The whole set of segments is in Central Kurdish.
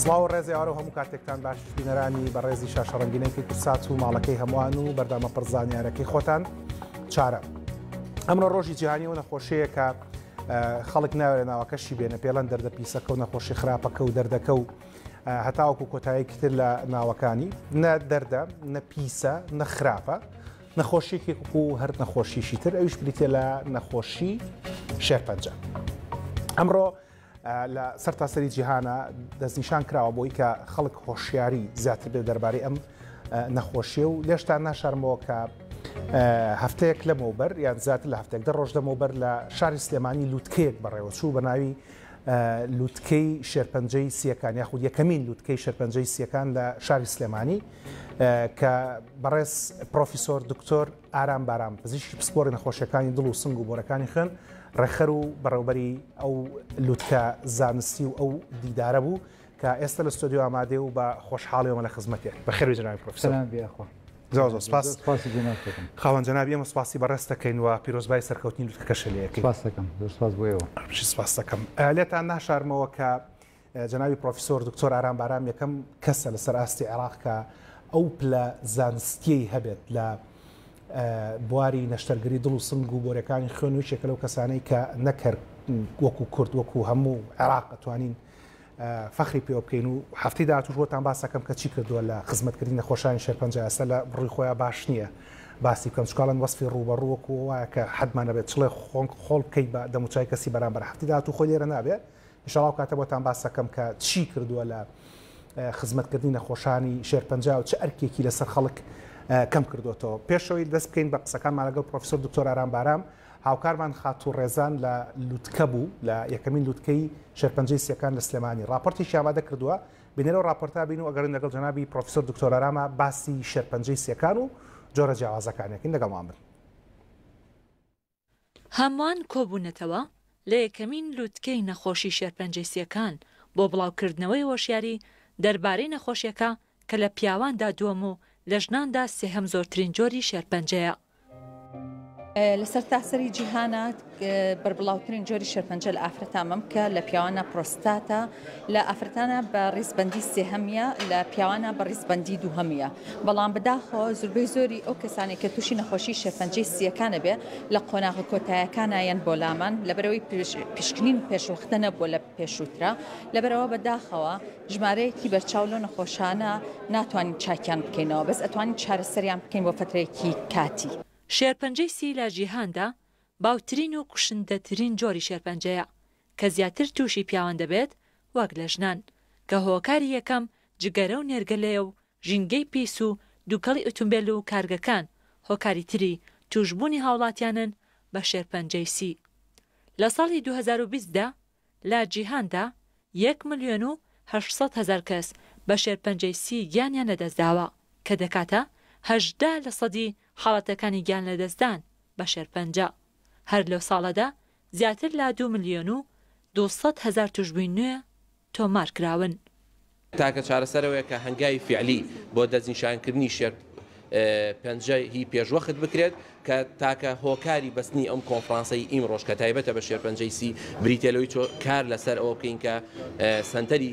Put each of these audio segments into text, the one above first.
سڵاو و ڕێزی ئارە هەموو کاتێکتان باش بینەرانی بە ڕێزی شاشەڕەنگینێکی کوسات و ماڵەکەی هەمووان و بەردامە پڕزانیارەکەی خۆتان چارە ئەمڕۆ ڕۆژی جیهانی و نەخۆشیەکە خەڵک ناوێ ناوەکەشی بێنە پێڵەن دەردە پیسەکە و نەخۆشی خراپەکە و دەردەکە و هەتاوەکو کۆتاییکتر لە ناوەکانی نە دەردە نە پیسە نە خراپە نەخۆشیەکی وەکو هەر نەخۆشیشی تر ئەویش بریتە لە نەخۆشی شێرپەنجە ئەمڕۆ لە سەر تاسەری جیهانە دەستنیشان کراوە بۆی کە خەڵک هۆشیاری زیاتر بێ دەربارەی ئەم نەخۆشیە و لێشتان ناشارمەوە کە هەفتەیەک لەمەوبەر یان زیاتر لە هەفتێک دە ڕۆژ لەمەوبەر لە شاری سلێمانی لووتکەیەک بەڕێوەچوو بە ناوی لووتکەی شێرپەنجەی سیەکان یاخود یەکەمین لووتکەی شەرپەنجەی سیەکان لە شاری سلێمانی کە بەڕێز پرۆفیسۆر دکتۆر ئارام بارام پزیشکی پسپۆری نەخۆشیەکانی دڵ و سنگ و بۆرەکانی خوێن ڕێخەر و بەڕێوبەری ئەو لوتکە زانستی و ئەو دیدارە بوو کە ئێستا لە ستۆدیو ئامادێ و بە خۆشحاڵیەوە لە خزمەتێ بەخێر جناوی پرۆفیسۆر زۆر زۆر سپاس خاوەن جنابی ئەمە سپاسی بەڕێستەکەین و پیرۆزبای سەرکەوتنی لوتکەشە لەکەی سپاس دەکەم سپاس بۆ ئێوە سپاس دەکەم لێتان ناشارمەوە کە جەنابی پڕۆفیسۆر دکتۆر ئارام بارام یەکەم کەسە لەسەر ئاستی عێراق کە ئەو پلە زانستیەی هەبێت لە بواری نەشتەرگری دڵ و سنگ و بۆرەکانی خوێن و شێکە لەو کەسانەی کە نەکرد وەکو کورد وەکو هەموو عێراق ئەتوانین فەخری پێوە بکەین و هەفتی داهاتوش بۆتان باسەکەم کە چی کردووە لە خزمەتکردنی نەخۆشانی شێرپەنجە ئەسە لە بڕی خۆیان باش نییە باسی بکەم چکڵەن وەسفی ڕوبەڕوەک وایە کە حەدمانە بێت چڵێ خۆڵ بکەیت بە دەموچای کەسی بەرامبەر هەفتی داهاتوو خۆی لێرە نابێت ان شاء اللە ئەو کاتە بۆتان باس ئەکەم کە چی کردووە لە خزمەت کردنی نەخۆشانی شێرپەنجە و چ ئەرکێکی لەسەر خەڵک کەم کردۆتەوە. پێش ئەوەی دەست بکەین بە قسەکانمان لەگەڵ پرۆفیسۆر دکتۆر ئارام بارام، هاوکارمان خاتوو ڕێزان لە لوتکە بوو لە یەکەمین لوتکەی شێرپەنجەی سییەکان لە سلێمانی ڕاپۆرتێکی ئامادە کردووە بینەرەو ڕاپۆرتە بین و ئەگەڕێن لەگەڵ جەنابی پرۆفیسۆر دکتۆر ئاراما باسی شێرپەنجەی سییەکان و جۆرە جیاوازەکانیەکەین لەگەڵمان بن. هەمووان کۆبوونەتەوە لە یەکەمین لووتکەی نەخۆشی شێرپەنجەی سییەکان بۆ بڵاوکردنەوەی هۆشیاری دەربارەی نەخۆشیەکە کە لە پیاواندا دووەم و لە ژناندا سێهەم زۆرترین جۆری شێرپەنجەیە. لە سەرتاسەری جیهانا بەربڵاوترین جۆری شێرپەنجە لە ئافرەتا مەمکە، لە پیاواننا پرۆستاتە، لە ئافرەتانا بە ڕیزبەندی سێهەمیە لە پیاوانا بە ڕیزبەندی دووهەمیە بەڵام بەداخەوە زوربەی زۆری ئەو کەسانەی کە تووشی نەخۆشی شێرپەنجەی سییەکانە بێ لە قۆناغە کۆتایەکانا یەن بۆ لامان لەبەرەوەی پشکنین پێشوەختە نەبووە لە پێشووترا لەبەرەوە بەداخەوە ژمارەیەکی بەرچاو لەو نەخۆشانە ناتوانین چاکیان بکەینەوە بەس ئەتوانین چارەسەریان بکەین بۆ فەترەیەکی کاتی. شێرپەنجەی سی لە جیهاندا باوترین و کوشندەترین جۆری شێرپەنجەیە کە زیاتر تووشی پیاوان دەبێت وەک لە ژنان، کە هۆکاری یەکەم جگەرە و نێرگەلەیە و ژینگەی پیس و دووکەڵی ئوتومبێل و کارگەکان هۆکاری تری تووشبوونی هاوڵاتیانن بە شێرپەنجەی سی. لە ساڵی دوو هەزار و بیست دا لە جیهاندا یەک ملیۆن و هەشت سەد هەزار کەس بە شێرپەنجەی سی گیانیان لەدەستداوە، کە دەکاتە هەژدە لەسەدی حاڵەتەکانی گیانلەدەستدان بە شێرپەنجە هەر لەو ساڵەدا زیاتر لە دوو ملیۆن و دوو سەد هەزار توشبووی نوێ تۆمارکراون. تاکە چارەسەر ئەوەیە کە هەنگاوی فیعلی بۆ دەستنیشانکردنی شێر پەنجە ی پێشوەخت بکرێت کە تاکە هۆکاری بەستنی ئەم کۆنفرانسەی ئیمڕۆش کە تایبەتە بە شێرپەنجەی سی بریتیە لەوەی کار لەسەر ئەوە بکەین کە سەنتەری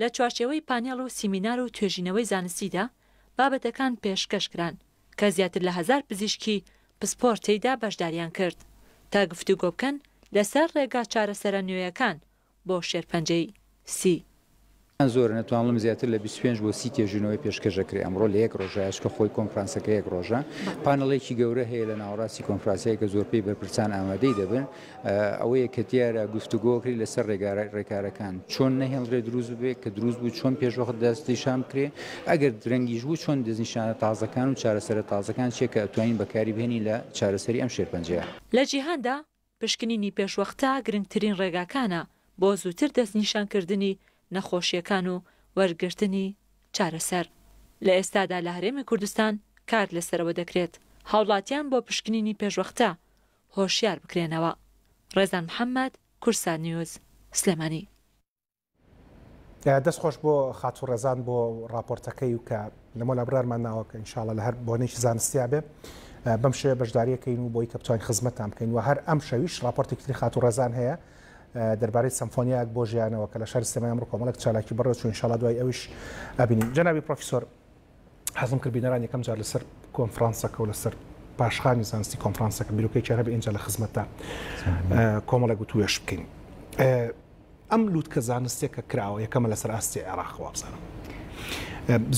لە چوارچێوەی پانێڵ و سیمینار و توێژینەوەی زانستیدا بابەتەکان پێشکەش کران کە زیاتر لە هەزار پزیشکی پسپۆر تێیدا بەشداریان کرد تا گفتوگۆ بکەن لەسەر ڕێگا چارەسەرە نوێیەکان بۆ شێرپەنجەی سی. یان زۆرە نەتوان بڵێم زیاتر لە بیست و پێنج بۆ سی تێژینەوەی پێشکەش دەکرێ ئەمڕۆ لە یەک ڕۆژا چکە خۆی کۆنفرانسەکە یەک ڕۆژە پانڵێکی گەورە هەیە لە ناوەڕاستی کۆنفراسەیە کە زۆرپەی بەرپرسان ئامادەی دەبن ئەوەیە کە دیارە گفتوگۆکری لەسەر ڕێگارە ڕێکارەکان چۆن نەهێڵرێ دروست بێت کە دروست بوو چۆن پێشوەخت دەست نیشان بکرێ ئەگەر درەنگیش بوو چۆن دەستنیشانە تازەکان و چارەسەرە تازەکان چیە کە ئەتوانین بەکاری بهێنی لە چارەسەری ئەم شێرپەنجەیە. لە جیهاندا پشکنینی پێشوەختە گرنگترین ڕێگاکانە بۆ زووتر دەستنیشانکردنی نەخۆشییەکان و وەرگرتنی چارەسەر. لە ئێستادا لە هەرێمی کوردستان کار لەسەرەوە دەکرێت هاوڵاتیان بۆ پشکنینی پێشوەختە هۆشیار بکرێنەوە. ڕێزان محەمەد، کورسات نیوز، سلێمانی. دەست خۆش بۆ خاتوو ڕێزان بۆ ڕاپۆرتەکەی و کە لە مۆلا برارمان ناوە کە انشاءاللە لە هەر بۆنێکی زانستیا بێ بەم شێوە بەشداریەکەین و بۆی کە بتوانین خزمەتتان بکەین و هەر ئەم شەویش ڕاپۆرتێکی تری خاتوو ڕێزان هەیە دەربارەی سمفۆنیاک بۆ ژیانەوە کە لە شاری سلێمانی ئەمڕۆ کۆمەڵێک چالاکی بەڕێوە چوو انشاءاللە دوای ئەویش ئەبینین جەنابی پرۆفیسۆر حەزم کرد بینەران یەکەم جار لەسەر کۆنفرانسەکە و لەسەر پاشخانی زانستی کۆنفرانسەکە بیرۆکەی چێرە بە ئینجا لە خزمەتدا کۆمەڵێک گوت وێش بکەین. ئەم لووتکە زانستێک کە کراوە یەکەمە لەسەر ئاستی عێراق وابزانم.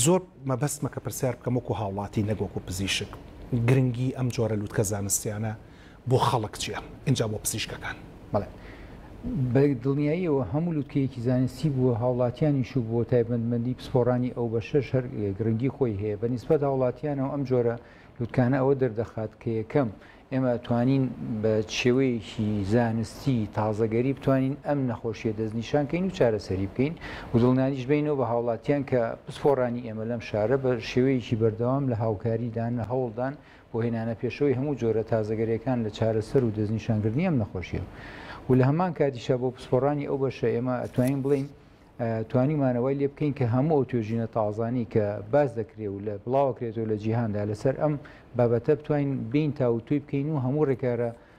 زۆر مەبەستمە کە پرسیار بکەم وەکو هاوڵاتی نەگۆک و پزیشک گرنگی ئەم جۆرە لووتکە زانستیانە بۆ خەڵک چیە ئینجا بۆ پزیشکەکان. بەڵێ بە دڵنیاییەوە هەموو لوتکەیەکی زانستی بووە هاوڵاتیانیش و بۆ تایبەتمەندی پسپۆڕانی ئەو بەشەش هەر گرنگی خۆی هەیە بە نیسبەت هاوڵاتیانەوە ئەم جۆرە لوتکانە ئەوە دەردەخات کە یەکەم ئێمە ئەتوانین بە چێوەیەکی زانستی تازەگەری بتوانین ئەم نەخۆشیە دەستنیشان کەین و چارەسەری بکەین و دڵنیاییش بینەوە بە هاوڵاتیان کە پسپۆڕانی ئێمە لەم شارە بە شێوەیەکی بەردەوام لە هاوکاریدان لە هەوڵدان بۆ هێنانە پێشەوەی هەموو جۆرە تازەگەریەکان لە چارەسەر و دەستنیشانکردنی ئەم نەخۆشیە و لە هەمان کاتیشا بۆ پسپۆڕانی ئەو بەشە ئێمە ئەتوانین بڵین توانیمانەوەی لێ بکەین کە هەموو ئەو توێژینە تازانی کە باز دەکرێت و لە بڵاوکرێتەوە لە جیهاندا لەسەر ئەم بابەتە بتوانین بین تاوتوی بکەین و هەموو ڕێکارە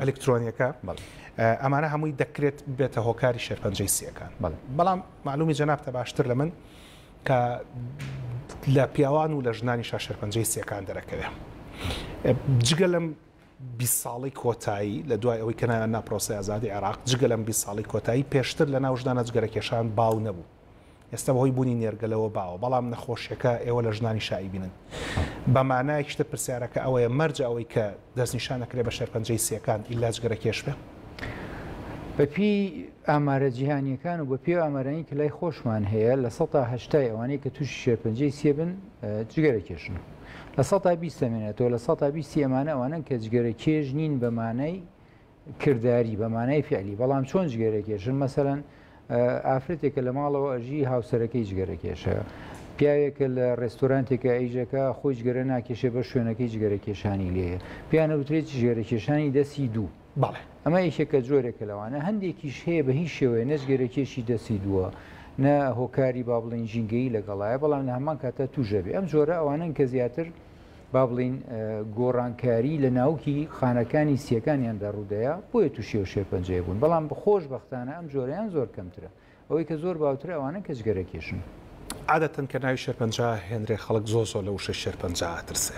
ئەلیکترۆنیەکە ئەمانە هەمووی دەکرێت بێتە هۆکاری شێرپەنجەی سیەکان بەڵام معلومی جەنابتە باشتر لە من کە لە پیاوان و لە ژنانی شا شێرپەنجەی سیەکان دەرەکەوێ جگە لەم بی ساڵی کۆتایی لە دوای ئەوەی کەنایان ناپرۆسی ئازادی عێراق جگە لەم بی ساڵی کۆتایی پێشتر لە ناو ژدانە جگەرەکێشان باو نەبوو ئێستا بەهۆی بوونی نێرگەلەوە باوە، بەڵام نەخۆشیەکە ئێوە لە ژنانیش ئایبینن. بە مانایەکی تر پرسیارەکە ئەوەیە مەرجە ئەوەی کە دەستنیشان ئەکرێ بە شێرپەنجەی سیەکان ئیللا جگەرەکێش بێ؟ بە پێی ئامارە جیهانیەکان و بە پێی ئامارانی کە لای خۆشمان هەیە لە سەتا هەشتای ئەوانەی کە تووشی شێرپەنجەی سیە بن جگەرەکێشن. لە سەتا بیست دەمێنێتەوە لە سەتا بیستی ئەمانە ئەوانەن کە جگەرەکێش نین بە مانای، کرداری بە مانای فعلی بەڵام چۆن جگەرەکێشن مەسەەن ئافرەتێکە لە ماڵەوە ئەژی هاوسەرەکەی جگەرەکێشە پیاوێکە لە ڕێستۆرانتێکە ئەیجەکە خۆی جگەرە ناکێشێ بە شوێنەکەی جگەرەکێشانی لێ پیانە وترێت جگەرەکێشانی دەسی دوو بەڵێ ئەمە یشێکە جۆرێکە لەوانە هەندێکیش هەیە بە هیچ شێوەیە نەجگەرەکێشی دەسی دووە نە هۆکاری با بڵین ژینگەی لەگەڵایە بەڵام لە هەمان کاتە توژەبێ ئەم جۆرە ئەوانن کە زیاتر با بڵین گۆڕانکاری لە ناوکی خانەکانی سیەکانیاندا ڕوودەیە بۆیە تووشێ و شێرپەنجەیە بوون بەڵام بخۆش بەختانە ئەم جۆریان زۆر کەمترە ئەوەی کە زۆر باوتر ئەوانە کە جگەرە کێشن. عادەتەن کە ناوی شێرپەنجە هێنرێ خەڵک زۆ زۆ لە وشەی شێرپەنجە ئەترسێ.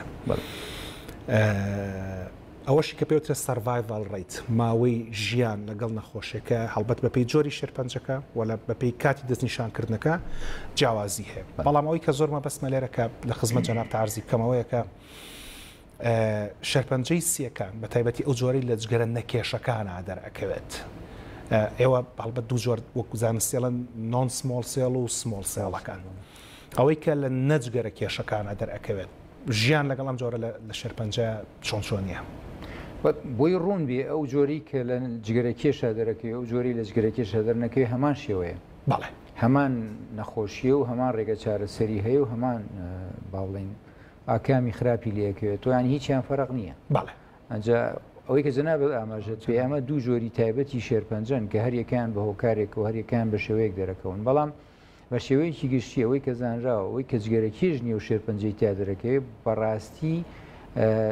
ئەوەشی کە پێوترێت سەرڤایڤاڵ ڕەیت، ماوەی ژیان لەگەڵ نەخۆشیەکە، هەڵبەت بەپێی جۆری شێرپەنجەکە و لە بەپێی کاتی دەستنیشانکردنەکە جیاوازی هەیە. بەڵام ئەوەی کە زۆر مەبەستمە لێرە کە لە خزمەت جەنابتا عەرزی بکەم ئەوەیە کە شێرپەنجەی سییەکان بە تایبەتی ئەو جۆرەی لە جگەرە نەکێشەکانا دەرئەکەوێت ئێوە هەڵبەت دوو جۆر وەکو زانستیڵن نۆن سمۆڵ سێڵ و سمۆڵ سێڵەکان. ئەوەی کە لە نەجگەرە کێشەکانە دەرئەکەوێت ژیان لەگەڵ ئەم جۆرە لە شێرپەنجە چۆن چۆنیە؟ بۆی ڕوون بێ ئەو جۆری کە لە جگەرە کێشا دەرەکەوێ و جۆری لە جگەرە کێشا دەرنەکەوێ هەمان شێوەیە. بەڵێ. هەمان نەخۆشیە و هەمان ڕێگە چارەسەری هەیە و هەمان با بڵێین ئاکامی خراپی لێ ئەکەوێتەوە یانی هیچیان فەرق نییە. بەڵێ. ئەجا ئەوەی کە جەنابت ئاماژەت پێ ئەمە دوو جۆری تایبەتی شێرپەنجەن کە هەریەکەیان بە هۆکارێکەوە هەریەکەیان بە شێوەیەک دەرەکەون بەڵام بە شێوەیەکی گشتی ئەوەی کە زانراوە ئەوەی کە جگەرە کێش نیە و شێرپەنجەی تیا دەرەکەوێت بەڕاستی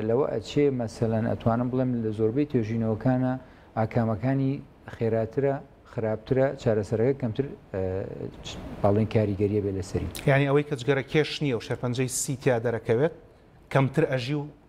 لەوە ئەچێ مەسەلەن ئەتوانم بڵێم لە زۆربەی توێژینەوەکانە ئاکامەکانی خێراترە خراپترە چارەسەرەکە کەمتر باڵێن کاریگەریە بێ لەسەری یعنی ئەوەی کە جگەرە کێش نیە و شێرپەنجەی سیتیا دەرەکەوێت کەمتر ئەژی و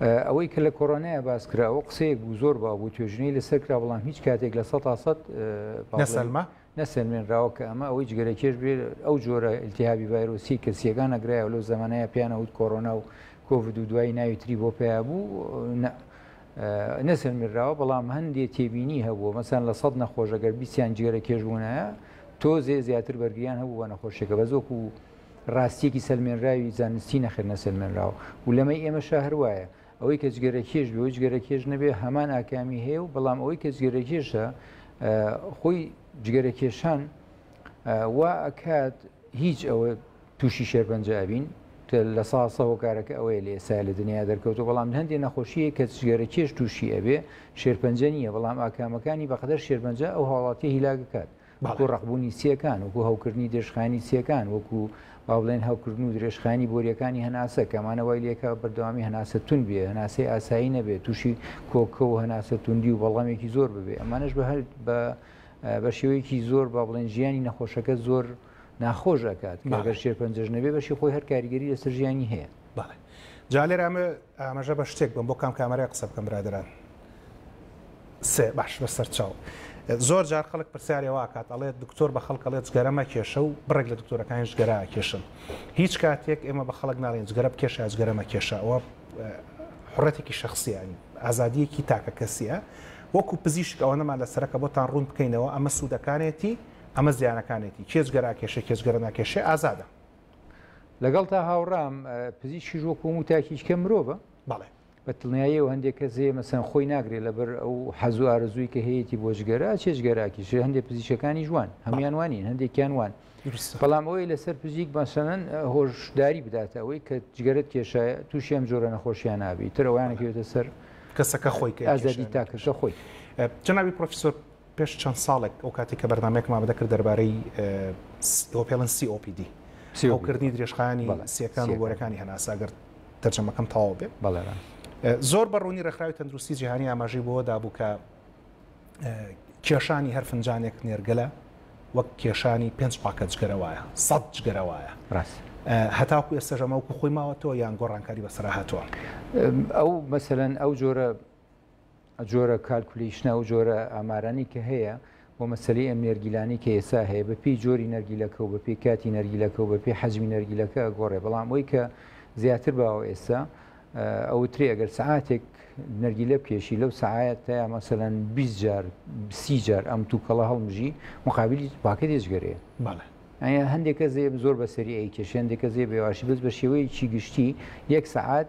ئەوەی کە لە کۆرۆنایا باس کرا ئەوە قسەیەک بوو زۆر باو بوو توێژینەی لەسەر کرا بەڵام هیچ کاتێک لە سە تا سەد نەسەلمە نەسەلمێنراوە کە ئەمە ئەوەی جگەرە کێش بێت ئەو جۆرە التهابی ڤایرۆسی کەسیەکان نەگرایەوە لەو زمانەیە پیانە وت کۆرۆنا و کۆڤد و دوایی ناوی تری بۆ پیا بوو نەسەلمێنراوە بەڵام هەندێک تێبینی هەبووە مەسەن لە سەد نەخۆشەگەر بیسیان جگەرە کێش بوونایە تۆزێ زیاتر بەرگیان هەبوو بە نەخۆشیەکە بە زۆک و ڕاستیەکی سەلمێنراوی زانستی نەخێر نەسەلمێنراوە و لەمەی ئێمەشا هەر وایە ئەوەی کە جگەرەکێش بێ و جگەرەکێش نەبێ هەمان ئاکامی هەیە و بەڵام ئەوەی کە جگەرەکێشە خۆی جگەرەکێشان وا ئەکات هیچ ئەوە تووشی شێرپەنجە ئەبین لە ساسە هۆکارەکە ئەوەیە لە ئێستا لە دنیا دەرکەوتو بەڵام هەندێک نەخۆشیە کە جگەرە کێش تووشی ئەبێ شێرپەنجە نییە بەڵام ئاکامەکانی بەقدر شێرپەنجە ئەو هاوڵاتی هیلاگکات وەکو ڕەقبوونی چیەکان، وەکو هەوکردنی درێژخایەنی چیەکان، وەکو وابڵێن هەوکردن و درێژخایەنی بۆریەکانی هەناسە، کە ئەمانە وای لێکا بەردەوامی هەناسە توند بێ، هەناسەی ئاسایی نەبێ، تووشی کۆکە و هەناسە توندی و بەڵغەمێکی زۆر ببێ، ئەمانەش بە شێوەیەکی زۆر بابڵێن ژیانی نەخۆشەکە زۆر ناخۆش ئەکات، کە گەر شێرپەنجەش نەبێ بەشی خۆی هەر کاریگەری لەسەر ژیانی هەیە. بەڵێ جا لێرە ئەمە ئاماژە بە شتێک بم بۆ کام کامەرای قسە بکەم برادەران سێ باش بەسەر چاو زۆر جار خەڵک پرسیارێ واکات ئەڵێت دکتۆر بە خەڵک ئەڵێت جگەرە مەکێشە و بڕێک لە دکتۆرەکانی جگەرا ئەکێشن هیچ کاتێک ئێمە بە خەڵک ناڵێن جگەرە بکێشە یا جگەرە مەکێشە ئەوە حڕەتێکی شخصیانی ئازادیەکی تاکە کەسیە وەکو پزیشک ئەوەنەمان لە سەرەکە بۆتان ڕوون بکەینەوە ئەمە سوودەکانێتی ئەمە زیانەکانێتی کێ جگەرا کێشە کێ جگەرە ناکێشێ ئازادە لەگەڵتا هاوڕام پزیشکیش وەکو هەموو تاکیچکە مرۆڤە بەڵێ بە دڵنیاییەوە هەندێک کەس هەیە مەسەن خۆی ناگرێت لەبەر ئەو حەز و ئارزووی کە هەیەی بۆ جگەرا چێژگەراکیش هەندێک پزیشەکانی جوان هەموان وانین هەندێکیان وان بەڵام ئەوەی لەسەر پزیک بەسەنەن هۆشداری بدات ئەوەی کە جگەرت کێشایە تووشی ئەم جۆرە نەخۆشیان نابی ترەوەیانەکەوێتە سەر کەسەکە خۆی ئازادی تاکەشە خۆی جناوی پرۆفیسۆر پێش چەند ساڵێک ئەو کاتێک کە بەرنامەیەکم ئامادە کرد دەربارەی ئەوە پێڵێن COPD هەوکردنی درێژخایەنی سیەکان و گۆرەکانی هەناسە ئەگەر تەرجەمەکەم تەواو بێ بەڵێران زۆر بەڕوونی ڕێکخراوی تەندروستی جیهانی ئاماژەی بۆ دابوو کە کێشانی هەر فنجانێک نێرگەلە وەک کێشانی پێنج پاکە جگەرەوەە سەد جگەرەوەە ڕاست هەتاکو ئێستا ژەمەوەکو خۆی ماوەتەوە یان گۆڕانکاری بەسرا هاتووە ئەو مەسەن ئەو جۆرە جۆرە کالکولیشنە و جۆرە ئامارانی کە هەیە بۆ مەسلی ئەم نێرگیلانی کە ئێسا هەیە بە پێی جۆری نەرگیلەکە و بە پێی کاتی نەرگیلەکە و بە پێی حەجمی نەرگیلەکە گۆڕێ بەڵام ئەوی کە زیاتر باوە ئێستا ئەو تری ئەگەر سعاتێک نەرگیلە بکێشی لەو سعات تا مەسەەن 20 جار سی جار ئەم تووکەڵە هەڵمژی مقابلی پاکە دێژگەرێ بەڵێ ئەە هەندێکە زێ زۆر بەسەری ئەی کێشێندێکە زێ بێواشی بەس بە شێوەیەکی گشتی یەک سعات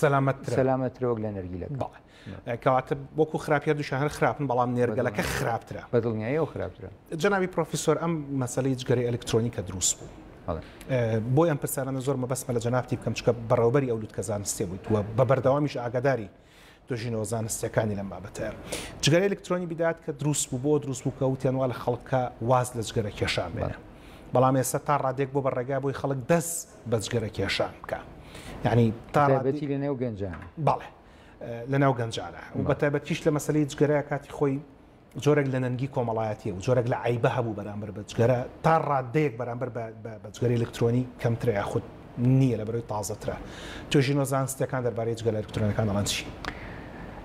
سەلامەتترە سەلامەترە وەک لە نەرگیلەکە بەڵێ کەواتە وەکو خراپی هەردووشیان هەر خراپن بەڵام نێرگەلەکە خراپترە بە دڵنیایی و خراپترە جەنابی پرۆفیسۆر ئەم مەسەلەی جگەرەی ئەلکترۆنی کە دروست بوو بەڵێ بۆ ئەم پرسیارانە زۆر مەبەستمە لە جەنابتی بکەم چکە بەڕێوبەری ئەو لوتکە زانستیە بوویت و بە بەردەوامیش ئاگاداری دۆژینەوە زانستیەکانی لەم بابەتەیە جگەرە ئەلکترۆنی بدات کە دروست بوو بۆ دروست بوو کە وتیان وا لە خەڵکە واز لە جگەرە کێشان بێنە بەڵام ئێستا تا ڕادێک بۆ بە ڕێگا بۆی خەڵک دەست بە جگەرە کێشان بکە یعنی تاڕێتی لە نێو گەنجان بەڵێ لە ناو گەنجانە و بە تایبەتیش لە مەسلی جگەرە کاتی خۆی جۆرێک لە نەنگی کۆمەڵایەتی و جۆرێک لە عیبە هەبوو بەرامبەر بە جگەرە تا ڕادەیەک بەرامبەر بە جگەری الکترۆنی کەمترە یاخود نییە لە بەرەوەی تازەترە توێژینەوە زانستەکان دەربارەی جگەلە الکترۆنەکان دەڵەن چی؟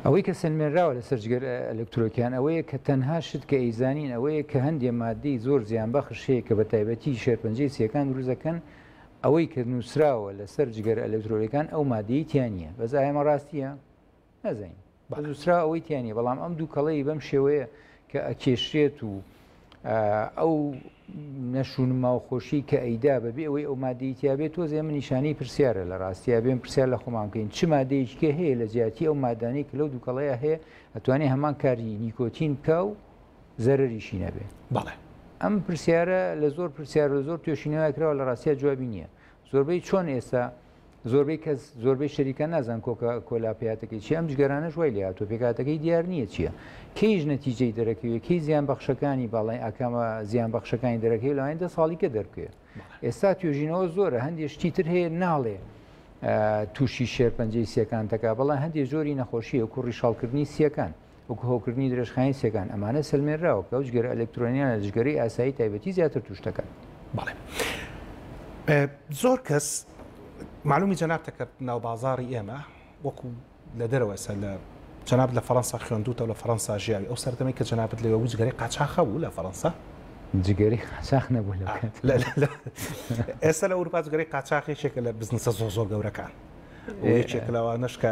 ئەوەی کە سەلمێنراوە لەسەر جگەر ئەلکترۆکیان ئەوەیە کە تەنها شت کە ئەیزانین ئەوەیە کە هەندێ مادەی زۆر زیانبەخش هەیە کە بە تایبەتی شێرپەنجەی سییەکان دروزەکەن ئەوەی کە نووسراوە لەسەر جگەر ئەلکترۆلەکان ئەو مادەی تیانە بەس ئایمە ڕاستیە نەزین بەزوسرا ئەوەی تیانە بەڵام ئەم دوو کەڵەی بەم شێوەیە کە ئەکێشرێت و ئەو نەشونما و خۆشیی کە ئەیدا بەبێ ئەوەی ئەو ماددەی تیا بێت تۆزێ ئەمە نیشانەی پرسیارە لە ڕاستیا بێن پرسیار لە خۆمان بکەین چ مادەیەکیکە هەیە لە جیاتی ئەو مادانەی کە لەو دووکەڵەیە هەیە ئەتوانێ هەمان کاری نیکۆتین بکە و زەرریشی نەبێ بەڵێ ئەم پرسیارە لە زۆر پرسیار و زۆر توێشینەوە کراوە لە ڕاستیا جوابی نییە زۆربەی چۆن ئێستا زۆربەی کەس زۆربەی شەریکە نازان کۆکە کۆلا پێاتەکەی چی ئەم جگەرانەش وای لە هاتوو پێکاتەکەی دیار نییە چییە کەیش نەتیجەی دەرەکەوێت کەی زیان بەخشەکانی باڵی ئاکامە زیان بەخشەکانی دەرەکەی لەوانی دە ساڵیکە دەرکێ ئێستا توێژینەوە زۆرە هەندێک شتی تر هەیە ناڵێ تووشی شێرپەنجەی سیەکان تەکا بەڵام هەندێک زۆری نەخۆشیە کوڕی شەڵکردنی سیەکان وەکو هەوکردنی درێژخایەنی سێکان ئەمانە سەلمێنراوە کە ئەو جگەرە ئەلکترۆنیانە جگەری ئاسایی تایبەتی زیاتر توش دەکەن بەڵێ زۆر کەس معلومی جەناب تەکرد ناو بازاری ئێمە وەکو لە دەرەوەسە لە جناب لە فەەنسا خوێندوتە لە فەەنسا ژیاوی ئەو سەردەمی کە جنابەت لەوە وجگەری قاچاخە بوو لە فەەنسا جگەری قاچاخ نەبوو ئێستا لە ئەوروپا جگەری قاچاخێکێکە لە بزنسە زۆ زۆر گەورەکان یەکێک لەوانشکە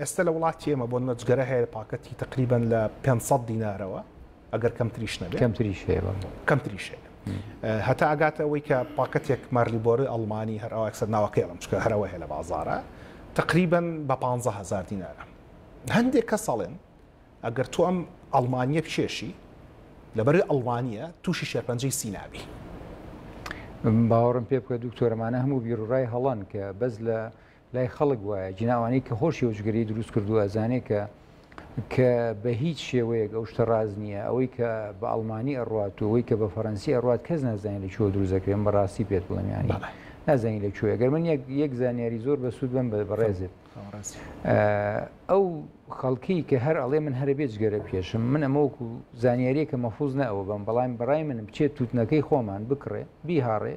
ئێستا لە وڵاتی ئێمە بۆ نەجگەرە هەیە پاکەتی تقریبان لە 500 دینارەوە ئەگەر کەم تریش نەبێت کەم تریش کەم تریش هەتا ئەگاتە ئەوەی کە پاکەتێک مارلیبۆری ئەڵمانی هەر ئەوەکسە ناوەکەڵم چکە هەرەوە هەیە لە بازارە تقریبا بە 150هزار دینارە هەندێک کە ساڵێن ئەگەر تۆ ئەم ئەڵمانیە بچێشی لەبەر ئەڵمانە تووشی شێرپەنجەی سیناوی باوەڕم پێ بکە دکتۆرەمانە هەموو بیرڕای هەڵان کە بەس لە لای خەڵک وایە جناوانەی کە هۆشی هۆشگەری دروست کردووە ئەزانێ کە کە بە هیچ شێوەیەک ئەو شتە ڕاز نییە ئەوەی کە بە ئەڵمانی ئەڕات و ئەوەی کە بە فەرەنسی ئەڕات کەس نازانین لە چۆ دروزەکرێن بەڕاستی پێت بڵێم ینی نازانین لە کوێ گەر من یەک زانیاری زۆر بە سوود بم بە بەڕێزت ئەو خەڵکی کە هەر ئەڵێ من هەرە بێت گەرە پێشم من ئەمەوەکو زانیاریە کە مەفوز نەوە بم بەڵام بەڕای منم بچێت تووتنەکەی خۆمان بکڕێ بیهاڕێ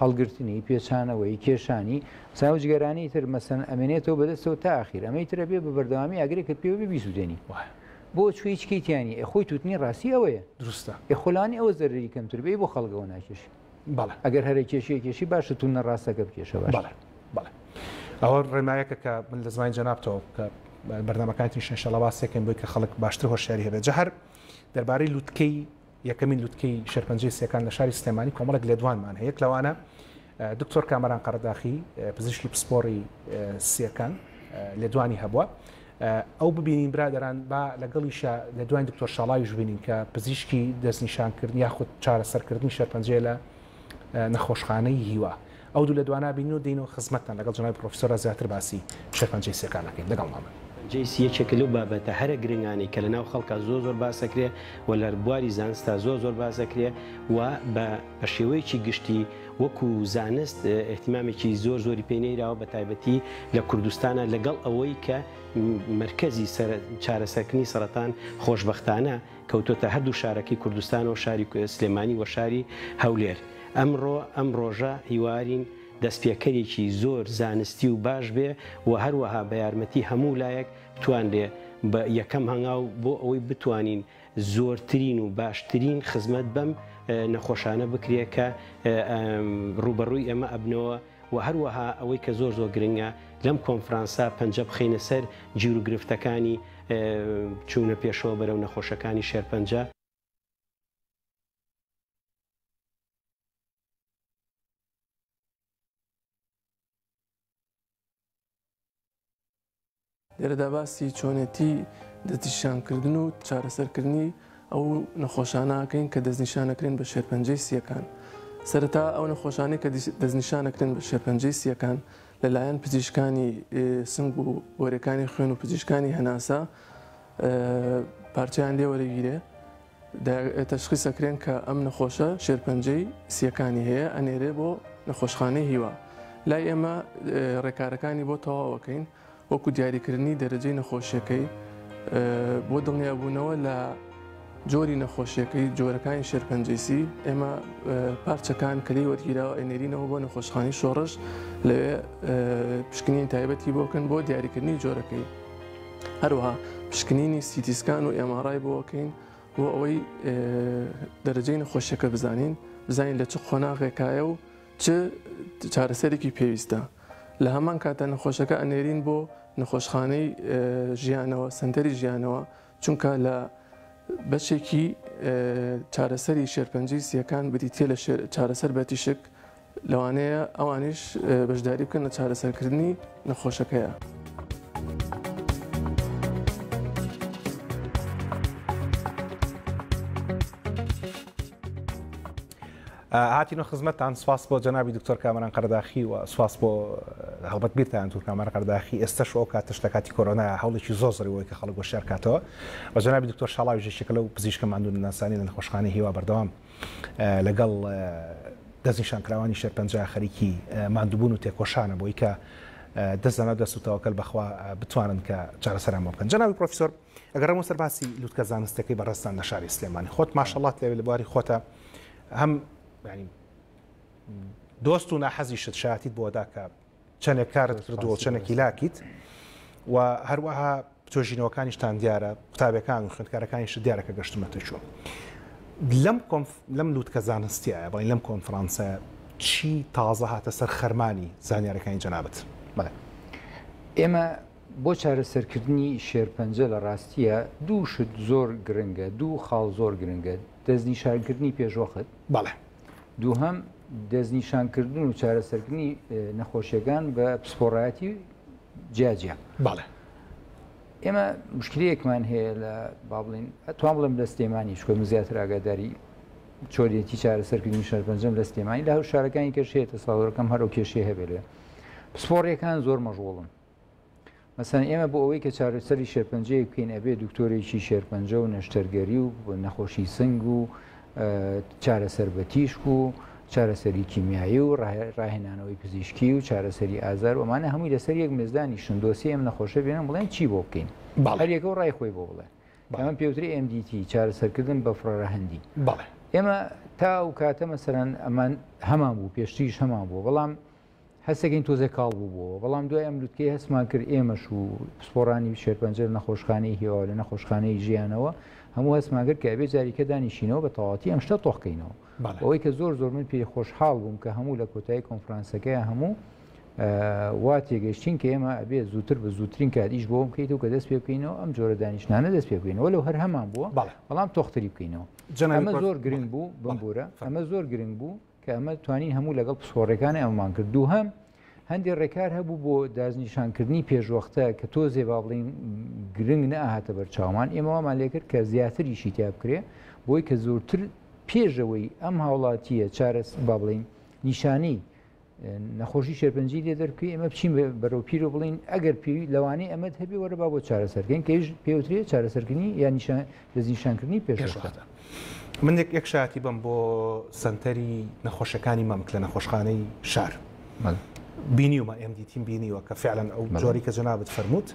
هەڵگرتنی، پێچانەوەی، کێشانی، چا و جگەرانی تر، مەسەلەن، ئەمێنێتەوە بەدەستەوە تا ئاخیر، ئەمەی تر ئەبێ بە بەردەوامی ئاگرێکت پێوە بێ بیسوتێنی. وایە. بۆ؟ چوە هیچ کەی تیا نیە. ئێ خۆی توتنی ڕاستی ئەوەیە. دروستە. ئێ خۆ لانی ئەوە زەرەری کەمتر بێ، ئەی بۆ خەڵک ئەوە ناکێشی؟ بەڵێ. ئەگەر هەر ئەکێشی ئەکێشی، باشە توونە ڕاستەکە بکێشە باشترە. بەڵێ. بەڵێ. ئەوە ڕێنمایەکە کە من لە زمانی جەنابتەوە کە بەرنامەکانتیش ئینشاڵا باسێکەین بۆی کە خەڵک باشتر هۆشیاری هەبێت. جا هەر دەربارەی لوتکەی یەکەمین لوتکەی شێرپەنجەی سیەکان لە شاری سلێمانی کۆمەڵێک لێدوانمان هەیە یەک لەوانە دکتۆر کامەران قەرەداخی پزیشکی پسپۆڕی سیەکان لێدوانی هەبووە ئەو ببینین برادران با لەگەڵیشە لێدوانی دکتۆر شاڵاوی ژبینین کە پزیشکی دەستنیشانکردن یاخود چارەسەرکردنی شێرپەنجەیە لە نەخۆشخانەی هیوا ئەو دوو لە دوانا بینن و دێین و خزمەتتان لەگەڵ جەنابی پڕۆفیسۆرا زیاتر باسی شێرپەنجەی سیەکان ئەکەین لەگەڵمان بن. جەی سی یەکێکە لەو بابەتە هەرە گرنگانەی کە لە ناو خەڵکا زۆر زۆر باس ئەکرێ و لە بواری زانستا زۆر زۆر باس ئەکرێ و بە بە شێوەیەکی گشتی وەکوو زانست ئیهتیمامێکی زۆر زۆری پێ نەیراوە بە تایبەتی لە کوردستانا لە گەڵ ئەوەی کە مەرکەزی سەر چارەسەرکردنی سەڕەتان خۆشبەختانە کەوتۆتە هەردوو شارەکەی کوردستانەوە شاری سلێمانی وە شاری هەولێر ئەمڕۆ ئەم ڕۆژە هیوارین دەستپێکەرێکی زۆر زانستی و باش بێ وە هەروەها بە یارمەتی هەموو لایەک بتوانرێ بە یەکەم هەنگاو بۆ ئەوەی بتوانین زۆرترین و باشترین خزمەت بەم نەخۆشانە بکرێ کە ڕووبەڕووی ئێمە ئەبنەوە. وە هەروەها ئەوەی کە زۆر زۆر گرنگە لەم کۆنفرانسە پەنجە بخەینە سەر گیر و گرفتەکانی چوونە پێشەوە بەرەو نەخۆشەکانی شێرپەنجە. لێرەدا باسی چۆنێتی دەستنیشانکردن و چارەسەرکردنی ئەو نەخۆشانەکەین کە دەستنیشانەکرێن بە شێرپەنجەی سیەکان. سەرەتا ئەو نەخۆشانەی کە دەستنیشانەکرێن بە شێرپەنجەی سیەکان لەلایەن پزیشکانی سنگ و گۆرەکانی خوێن و پزیشکانی هەناسە پارچیان لێوەرەگیرێ تەشخیس ئەکرێن کە ئەم نەخۆشە شێرپەنجەی سییەکانی هەیە ئەنێرێ بۆ نەخۆشخانەی هیوا لای ئێمە ڕێکارەکانی بۆ تەواوەکەین وەکو دیاریکردنی دەرەجەی نەخۆشیەکەی بۆ دڵنیابوونەوە لە جۆری نەخۆشیەکەی جۆرەکانی شێرپەنجەیسی ئێمە پارچەکان کەلی وەرگیراوە ئەنێرینەوە بۆ نەخۆشخانی شۆڕش لەوێ پشکنین تایبەتی بۆکەن بۆ دیاریکردنی جۆرەکەی هەروەها پشکنینی سیتی سکان و ئێمارای بۆ ئەکەین بۆ ئەوەی دەرەجەی نەخۆشیەکە بزانین بزانین لە چ قۆناغێکایە و چ چارەسەرێکی پێویستە لە هەمان کاتە نەخۆشەکە ئەنێرین بۆ نەخۆشخانەی ژیانەوە سنتەری ژیانەوە چونکە لە بەشێکی چارەسەری شێرپەنجی سیەکان بریتە لە چارەسەر بە تیشک لەوانەیە ئەوانیش بەشداری بکەن لە چارەسەرکردنی نەخۆشەکەیە. هاتیینە خزمەتان سوپاس بۆ جەنابی دکتۆر کامەران قەرداخی و سوپاس بۆ هەڵبەت بیرتان تور کامەر قەرداخی ئێستش ئەو کاتش لە کاتی کۆرۆنا هەڵێکی زۆ زریەوەی کە خەڵک گۆشار کاتەوە بە جەنابی دکتۆر شڵاوی ژێکە لەو پزیشکە مادون ناسانی لە نەخۆشخانەی هیوا بەردەوام لەگەڵ دەستنیشانکراوانی شێرپەنجە خەریکی ماندووبوون و تێکۆشانە بۆی کە دەست لەناو دەست و تەوەکەل بەخوا بتوانن کە چارەسەران بۆ بکەن جەنابی پرۆفیسۆر ئەگەر ڕەمۆ سەر باسی لوتکە زانستەکەی بەڕێزتان لە شاری سلێمانی خۆت ماشەڵات لێ لە بواری خۆتە هەم دۆست و ناحەزیشت شایەتیت بۆدا کە چەنێک کارت کردووە و چەنێک هیلاکیت و هەروەها توێژینەوەکانیشتان دیارە قوتابەکان و خوێندکارەکانیشت دیارە کە گەشتمەتە چۆن لەم لەم لووتکە زانستیایە بڵین لەم کۆنفرانسە چی تازە هاتە سەر خەرمانی زانیارەکانی جەنابەت بڵێ ئێمە بۆ چارەسەرکردنی شێرپەنجە لە ڕاستیە دوو شت زۆر گرنگە دوو خاڵ زۆر گرنگە دەستنیشارکردنی پێشوەخت بەڵێ دووهەم دەستنیشانکردن و چارەسەرکردنی نەخۆشیەکان بە پسپۆڕایەتی جیاجیا بەڵێ ئێمە مشکلەیەکمان هەیە لە بابلین توان بڵێم لە سلێمانی شکۆ من زیاتر ئاگاداری چۆریەتی چارەسەرکردنی شار پەنجەم لە سلێمانی لە هەو شارەکانی کەشێتە ساڵەکەم هەرو کێشێ هەبێت پسپۆڕیەکان زۆر مەژوڵن مەسەن ئێمە بۆ ئەوەی کە چارەسەری شێرپەنجەیە بکەین ئەبێ دکتۆرێکی شێرپەنجە و نەشتەرگەری و نەخۆشی سنگ و چارەسەر بە تیشک و چارەسەری کیمیایی و ڕاهێنانەوەی پزیشکی و چارەسەری ئازار ومانە هەمووی لەسەر یەک مێزدانی شندۆسی ئەم نەخۆشە بێنم بڵێن چی بۆ بکەین هەریەکە و ڕای خۆی بۆ بڵێ ئەمە پێوتری MDT چارەسەرکردن بە فڕۆرە هەندی بەڵێ ئێمە تا و کاتە مەسەرەن ئەمان هەمان بوو پێشتیش هەمان بوو بەڵام هەستەکەین تۆزێ کاڵ بووبووەوە، بەڵام دوای ئەم لوتکەیە هەستمان کرد ئێمەش و پسپۆڕانی شێرپەنجە لە نەخۆشخانەی هیوا و لە نەخۆشخانەی ژیانەوە هەموو هەستمان کرد کە ئەبێ جاریکە دانیشینەوە بە تەواتی ئەم شتە تۆخ کەینەوە. بەوەی کە زۆر زۆر من پێی خۆشحاڵ بووم کە هەموو لە کۆتایی کۆنفرانسەکەیا هەموو وا تێگەیشتین کە ئێمە ئەبێ زووتر بە زووترین کات ئیش بۆم بکەیتەوە کە دەست پێ بکەینەوە ئەم جۆرە دانیشتنانە دەست پێ بکەینەوە لەو هەر هەمان بووە بەڵام تۆختری بکەینەوە ئەمە زۆر گرنگ بوو بمبورە ئەمە زۆر گرنگ بوو کە ئەمە توانین هەموو لەگەڵ پسپۆڕێکانی ئەمەمان کرد دووهەم هەندێک ڕێکار هەبوو بۆ دازنیشانکردنی پێشوەختە کە تۆزێ با بڵین گرنگ نەهاتە بەر چاومان ئێمەوامان لێکرد کە زیاتریشی تیا بکرێ بۆی کە زۆرتر پێشەوەی ئەم هاوڵاتیە چارەس با بڵین نیشانی نەخۆشی شێرپەنجی لێ دەرکوی ئەمە بچین بەرەو پیر و بڵین ئەگەر پێوی لەوانەیە ئەمەد هەبێ وەرە با بۆ چارەسەرکەین کەش پێوترێ چارەسەرکردنی یا نیشان دەستنیشانکردنی پێشوەختە. من یەک شایەتی بم بۆ سەنتەری نەخۆشەکانی مەمک لە نەخۆشخانەی شار بینیومە ئێم دیتیم بینیوە کە فعلەن ئەو جۆری کە جەنابەت فەرمووت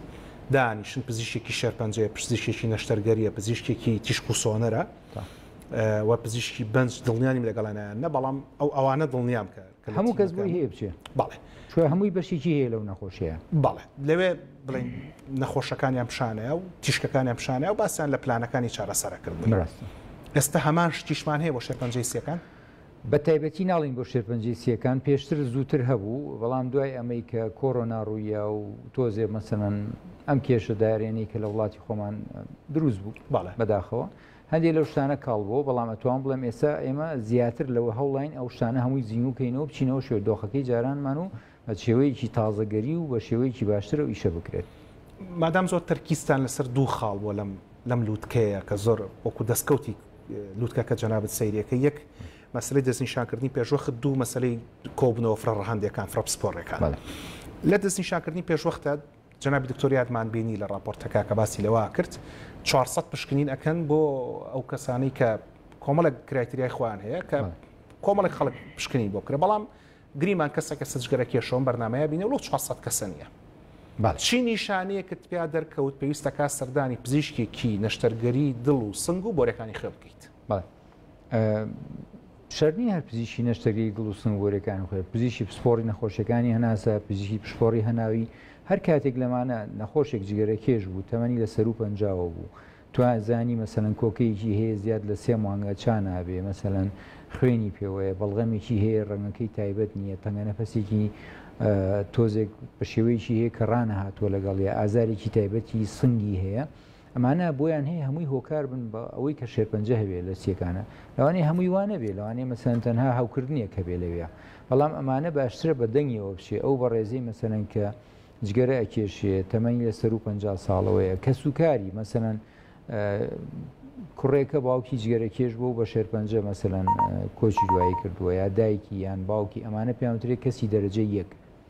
دانیشن پزیشکی شێرپەنجەیە پزیشکی نەشتەرگەریە پزیشکێکی تیشک و سۆنەرە و پزیشکی بەنج دڵنیانیم لەگەڵانیان نە بەڵام ئەو ئەوانە دڵنیام کە هەموو کەس بۆی هەیە بچێ بەڵێ چۆ هەمووی بەشێکی هەیە لەو نەخۆشەیە بەڵێ لەوێ بڵین نەخۆشەکانیان پیشانەیە و تیشکەکانیان پیشانەیە و باسییان لە پلانەکانی چارەسەرەکرد بڕاست ئێستا هەمان شتیشمان هەیە بۆ شێرپەنجەی سیەکان بە تایبەتی ناڵین بۆ شێرپەنجەی سیەکان پێشتر زووتر هەبوو بەڵام دوای ئەمەی کە کۆرۆنا ڕوویە و تۆزێ مەسەن ئەم کێشە دارێنەی کە لە وڵاتی خۆمان دروست بوو باڵە بەداخەوە هەندێ لەو شتانە کاڵ بووە، بەڵام ئەتوام بڵێم ئێستا ئێمە زیاتر لەوە هەوڵاین ئەو شتانە هەمووی زینوو کەینەوە بچینەوە شێوە دۆخەکەی جارانمان و بە شێوەیەکی تازەگەری و بە شێوەیەکی باشتر ئەو ئیشە بکرێت. مادام زۆر تەرکیزتان لەسەر دوو خاڵ بووە لەم لەم لووتکەیە کە زۆر وەکوو دەسکەوتی لووتکەکە جەنابت سەیری ئەکەی، یەک مەسەلەی دەستنیشانکردنی پێشوەخت، دوو مەسەلەی کۆبوونەوە فرە ڕەهەندێکان، فرە پسپۆڕێکان. بەڵێ. لە دەستنیشانکردنی پێشوەختە، جەنابی دکتۆر یادمان بینی لە ڕاپۆرتە کاکە باسی لەوە کرد چوار سەد پشکنین ئەکەن بۆ ئەو کەسانەی کە کۆمەڵێک کرایتریای خۆیان هەیە کە کۆمەڵێک خەڵک پشکنین بۆ کرێ بەڵام گریمان کەسە کە سجگەرە کێشەوەم بەرنمەیە بینە لۆ 400 کەسە نیە چی نیشانەیەکت پیا دەرکەوت پێویستەکە سەردانی پزیشکێکی نەشتەرگەری دڵ و سنگ و بۆرەکانی خوێ بکەیت. بەڵێ شەرنی هەر پزیشی نەشتەگەی گڵ و سنگۆرەکان خۆێ پزیشی پسپۆری نەخۆشیەکانی هەناسە پزیشی پشپۆری هەناوی هەر کاتێک لەمانە نەخۆشێک جگەرە کێش بوو تەمەنی لە سەرو پەنجاوە بوو تو زانی مەسەن کۆکەیەکی هەیە زیاد لە سێ مانگە چا نابێ مەسەن خوێنی پێوەیە بەڵغەمێکی هەیە ڕەنگەکەی تایبەت نییە تەنگە نەفەسێکی تۆزێک بە شێوەیەکی هەیە کە ڕانە هاتووە لەگەڵ ئازارێکی تایبەتی سنگی هەیە ئەمانە بۆیان هەیە هەمووی هۆکار بن بە ئەوەی کە شێرپەنجە هەبێ لە چیەکانە لەوانەیە هەمووی وا نەبێ لەوانەیە مەسەلەن تەنها هەوکردنێک هەبێ لەوێ بەڵام ئەمانە باشترە بە دەنگیەوە بچێ ئەو بەڕێزەی مەسەلەن کە جگەرە ئەکێشێ تەمەنی لە سەر و پ ساڵەوەیە کە سوکاری مەسەلەن کوڕێکە باوکی جگەرەکێش بۆ بە شێرپەنجە مەسەلەن کۆچی دوایی کردووە یا دایکی یان باوکی ئەمانە پێیانوترێت کەسی دەرەجە یەک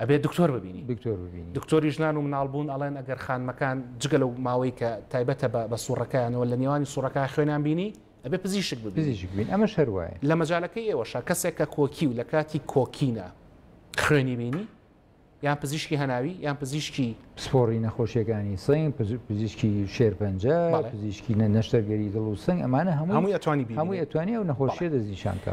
ئەبێت دکتۆر ببینی دکتۆر ببینی. دکتۆری ژنان و مناڵبوون ئەڵێن ئەگەر خانمەکان جگە لەو ماوەی کە تایبەتە بە بە سوڕەکەیانەوە لە نێوانی سوڕەکە خوێنیان بینی ئەبێ پزیشک ببینی پزیشک بین ئەمە شەر وایە لە مەجالەکەی ئێوەشە کەسێک کە کۆکی و لە کاتی کۆکینە خوێنی بینی یان پزیشکی هەناوی یان پزیشکی پسپۆڕی نەخۆشیەکانی سنگ پزیشکی شێرپەنجە پزیشکی نە نەشتەرگەری دڵ و سنگ ئەمانە هەموو هەمووی ئەتوانی هەمووی ئەتوانی ئەو نەخۆشیە دەستنیشانکە.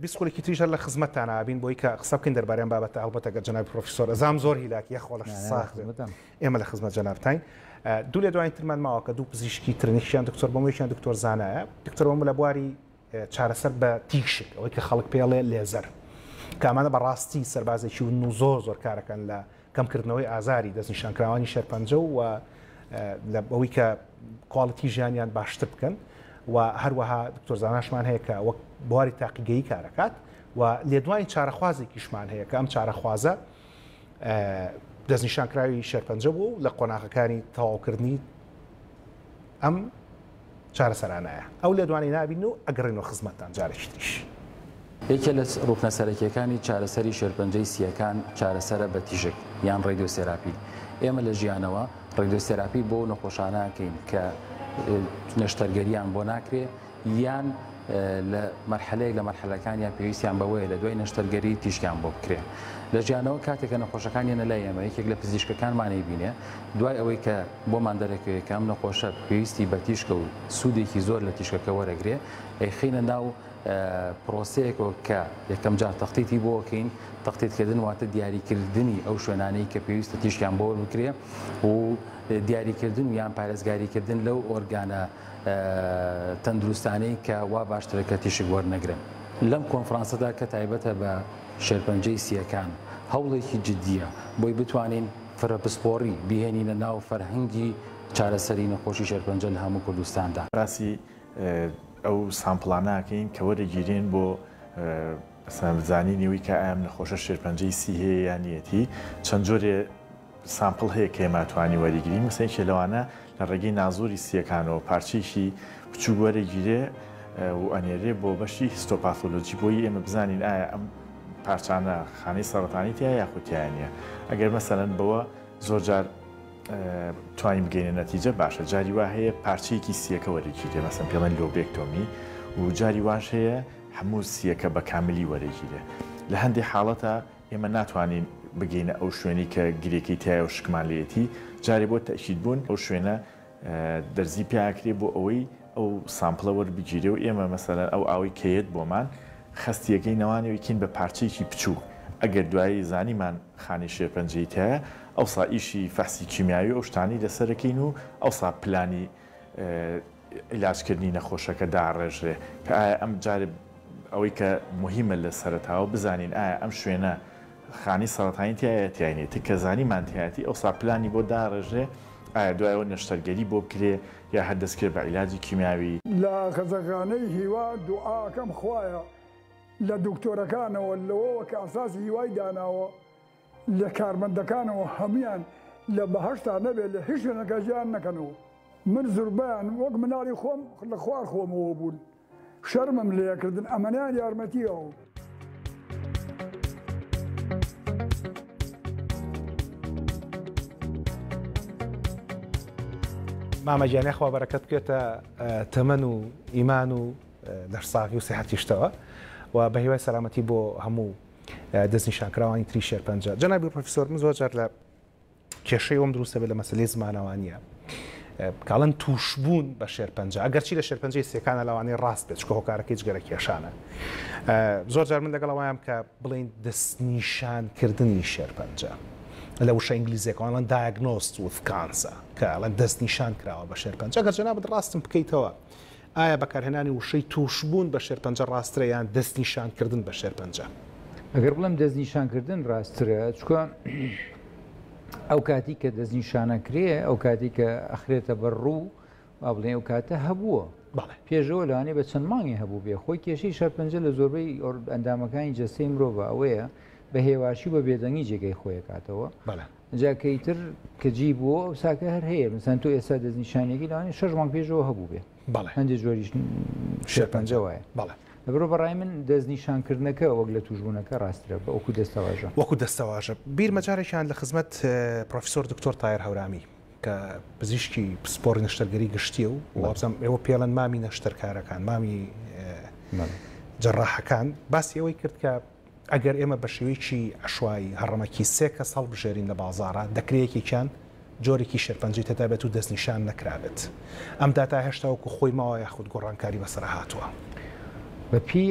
بیست خولەکی تریش هەر لە خزمەتتانا ئەبین بۆی کە قسە بکەین دەربارەی ئەم بابەتە هەڵبەتە گەر جەنابی پرۆفیسۆر ئەزام زۆر هیلاک یە خۆڵە ساخ بێت ئێمە لە خزمەت جەنابتاین دوو لە دوای ترمان ماوە کە دوو پزیشکی ترنیشیان دکتۆر بەم یەکیان دکتۆر زانایە دکتۆر بەم لە بواری چارەسەر بە تیشک ئەوەی کە خەڵک پێڵێ لێزەر کامانە بەڕاستی سەربازێکی و زۆر زۆر کارەکەن لە کەمکردنەوەی ئازاری دەستنیشانکراوانی شێرپەنجە و لە ئەوەی کە کواڵیتی ژیانیان باشتر بکەن و هەروەها دکتۆر زاناشمان هەیە کە وەک بواری تاقیگەی کارەکات و لێدوانی چارەخوازێکیشمان هەیە کە ئەم چارەخوازە دەستنیشانکراوی شێرپەنجە بوو لە قۆناغەکانی تەواوکردنی ئەم چارەسەرانایە ئەو لێدوانەی نابین و ئەگەڕێنەوە خزمەتتان جارێکی تریش. یەکێ لە ڕوکنە سەرەکیەکانی چارەسەری شێرپەنجەی سییەکان چارەسەرە بە تیشک یان ڕێدیۆسێراپی. ئێمە لە ژیانەوە ڕێدیۆسێراپی بۆ ئەو نەخۆشانە ئەکەین کە نەشتەرگەریان بۆ ناکرێ یان لە مەرحەلەیەک لە مەرحەلەکانیان پێویستیان بەوەیە لە دوای نەشتەرگەری تیشکیان بۆ بکرێ لە جیانەوە کاتێکە نەخۆشەکان یەنە لای ئێمە یەکێک لە پزیشکەکانمانەی بینێ دوای ئەوەی کە بۆمان دەرەکەوێ کام نەخۆشە پێویستی بە تیشکە و سوودێکی زۆر لە تیشکەکە وەرەگرێ ئەی خینە ناو پرۆسەیەکەوە کە یەکەم جار تەختیتی بۆکەین تەختیتکردن واتە دیاریکردنی ئەو شوێنانەی کە پێویستە تیشکیان بۆ بکرێ و دیاریکردن و یان پارێزگاریکردن لەو ئۆرگانە تەندروستانەی کە وا باشترە کە تیشک وەرنەگرن. لەم کۆنفرانسەدا کە تایبەتە بە شێرپەنجەی سییەکان، هەوڵێکی جدییە بۆی بتوانین فرە پسپۆڕی بهێنینە ناو فەرهەنگی چارەسەری نەخۆشی شێرپەنجە لە هەموو کوردستاندا. باسی ئەو سامپڵانە ئەکەین کە وەرەگیرێن بۆ مەسەلەن زانینی ئەوی کە ئایا ئەم نەخۆشە شێرپەنجەی سی هەیە یا نییەتی، چەند جۆرێ سامپڵ هەیە کە ئێمە توانی وەریگرین مەسەن یەکێ لەوانە لە ڕێگەی نازۆری سییەکانەوە پارچەیەکی بچووک وەرەگیرێ و ئەنێرێ بۆ بەشی هیستۆپاثۆلۆجی بۆی ئێمە بزانین ئایا ئەم پارچانە خانەی سەڕەتانی تیا یاخود تیا نییە ئەگەر مەسەلەن بەوە زۆر جار توانین بگەینە نەتیجە باشە جاری وا هەیە پارچەیەکی سییەکە وەرەگیرێ مەسەن پێڵێن لۆبێکتۆمی و جاری واش هەیە هەموو سییەکە بە کاملی وەرەگیرێ لە هەندێ حاڵەتە ئێمە ناتوانین بگەینە ئەو شوێنەی کە گرێکەی تایە و شکمان لێیەتی، جارێ بۆ تەئکیدبوون ئەو شوێنە دەرزی پێ ئاکرێ بۆ ئەوەی ئەو سامپڵە وەربگیرێ و ئێمە مەسەلەن ئەو ئاوەی کە یەت بۆمان خەستیەکەی نەوانەوە ئیکەین بە پارچەیەکی پچوو ئەگەر دوایی زانیمان خانەی شێرپەنجەی تایە ئەوسا ئیشی فەحسی کیمیاوی و ئەو شتانەی لەسەر ئەکەین و ئەوسا پلانی عیلاجکردنی نەخۆشەکە داڕێژرێ کە ئایا ئەم جارێ ئەوەی کە موهیمە لە سەرەتاوە بزانین ئایا ئەم شوێنە خانەی سەڕەتانی تیایە تیای نیە تککە زانیمان تیایەتی ئەوسا پلانی بۆ داڕێژرێ ئایا دوای ئەوە نەشتەرگەری بۆ بکرێ یا هەر دەستکرێ بە عیلاجی کیمیاوی. لە خەزەخانەی هیوا دوعاکەم خوایە لە دکتۆرەکانەوە لەوەوە کە ئەساسی هیوای داناوە، لە کارمەندەکانەوە هەموویان لە بەهەشتا نەبێت لە هیچ شوێنەکە جیان نەکەنەوە من زوربەیان وەک مناڵی خۆم لە خوار خۆمەوە بوون شەرمم لێکردن ئەمەنیان یارمەتیەوە. مامە گیان یاخوا بەرەکەت بکێتە تەمەن و ئیمان و لەشساغی و سیحەتیشتەوە و بە هیوای سەلامەتی بۆ هەموو دەستنیشانکراوانی تری شێرپەنجە جەنابی پرۆفیسۆر من زۆر جار لە کێشەی ئەوم دروستە بێت لە مەسلەی زمانەوانیە کاڵن توشبوون بە شێرپەنجە ئەگەرچی لە شێرپەنجەی سێکانە لەوانەیە ڕاست بێت چکە هۆکارەکەی جگەرە کێشانە زۆر جار من لەگەڵەوەیان کە بڵین دەستنیشانکردنی شێرپەنجە لە وشە ئینگلیزیەکانڵەن دایگنۆست وکانسە کەڵەن دەستنیشان کراوە بە شێرپەنجە گەر جەنابەت ڕاستم بکەیتەوە ئایا بەکارهێنانی وشەی تووشبوون بە شێرپەنجە ڕاستترە یان دەستنیشانکردن بە شێرپەنجە؟ ئەگەر بڵێم دەستنیشانکردن ڕاستترە، چونکە ئەو کاتی کە دەستنیشانە کرێ ئەو کاتی کە ئەخرێتە بەر ڕوو با بڵێ ئەو کاتە هەبووە پێشەوە لەوانێ بە چەند مانگی هەبوو بێ خۆی کێشەی شەرپەنجە لە زۆربەی ئەندامەکانی جەستەی مرۆڤ ئەوەیە بە هێواشی بە بێدەنگی جێگەی خۆیکاتەوە جا کەی تر کە جی بووە ئەو ساکە هەر هەیە مثلەن تۆ ئێستا دەستنیشانێکی لەوانی شەش مانگ پێشەوە هەبوو بێ بەڵێ هەندێک جۆریش شێرپەنجە وایە بەڵێ لەبرۆ بەڕای من دەستنیشانکردنەکە وەک لە توشبوونەکە ڕاسترە بە ئەوکو دەستەواژە وەکو دەستەواژە بیرمە جارێکیان لە خزمەت پرۆفیسۆر دکتۆر تایر هەورامی کە پزیشکی پسپۆڕی نەشتەرگەری گشتیە و وابزانم ئێوە پێڵەن مامی نەشتەرکارەکان مامی جەڕاحەکان باسی ئەوەی کرد کە ئەگەر ئێمە بە شێوەیەکی عەشوایی، هەڕەمەکی سێ کەس هەڵبژێرین لە بازاڕا، دەکرێ یەکێکیان جۆرێکی شێرپەنجەی تێدا بێت و دەستنیشان نەکرابێت. ئەم داتا هێشتا وەکو خۆی ماوە یاخود گۆڕانکاری بەسەرا هاتووە؟ بە پێی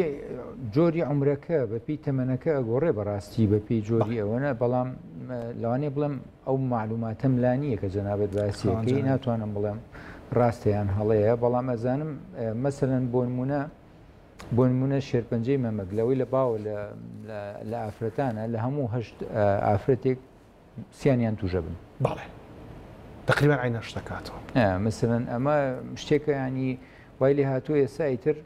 جۆری عومرەکە، بە پێی تەمەنەکە ئەگۆڕێ بەڕاستی بە پێی جۆری ئەوە نا، بەڵام لەوانەیە بڵێم ئەو مەعلووماتەم لا نییە کە جەنابت باسی دەکەی، ناتوانم بڵێم ڕاستە یان هەڵەیە، بەڵام ئەزانم مەسەلەن بۆ نموونە، بۆ نموونە شێرپەنجەی مەمک لەوەی لە باوە لە ئافرەتانە لە هەموو هەشت ئافرەتێک سیانیان تووشە بن بەڵێ تقریبان عینەش دەکاتەوە مەسەن ئەمە شتێکەیانی وای لێ هاتوو ئێستا ئیتر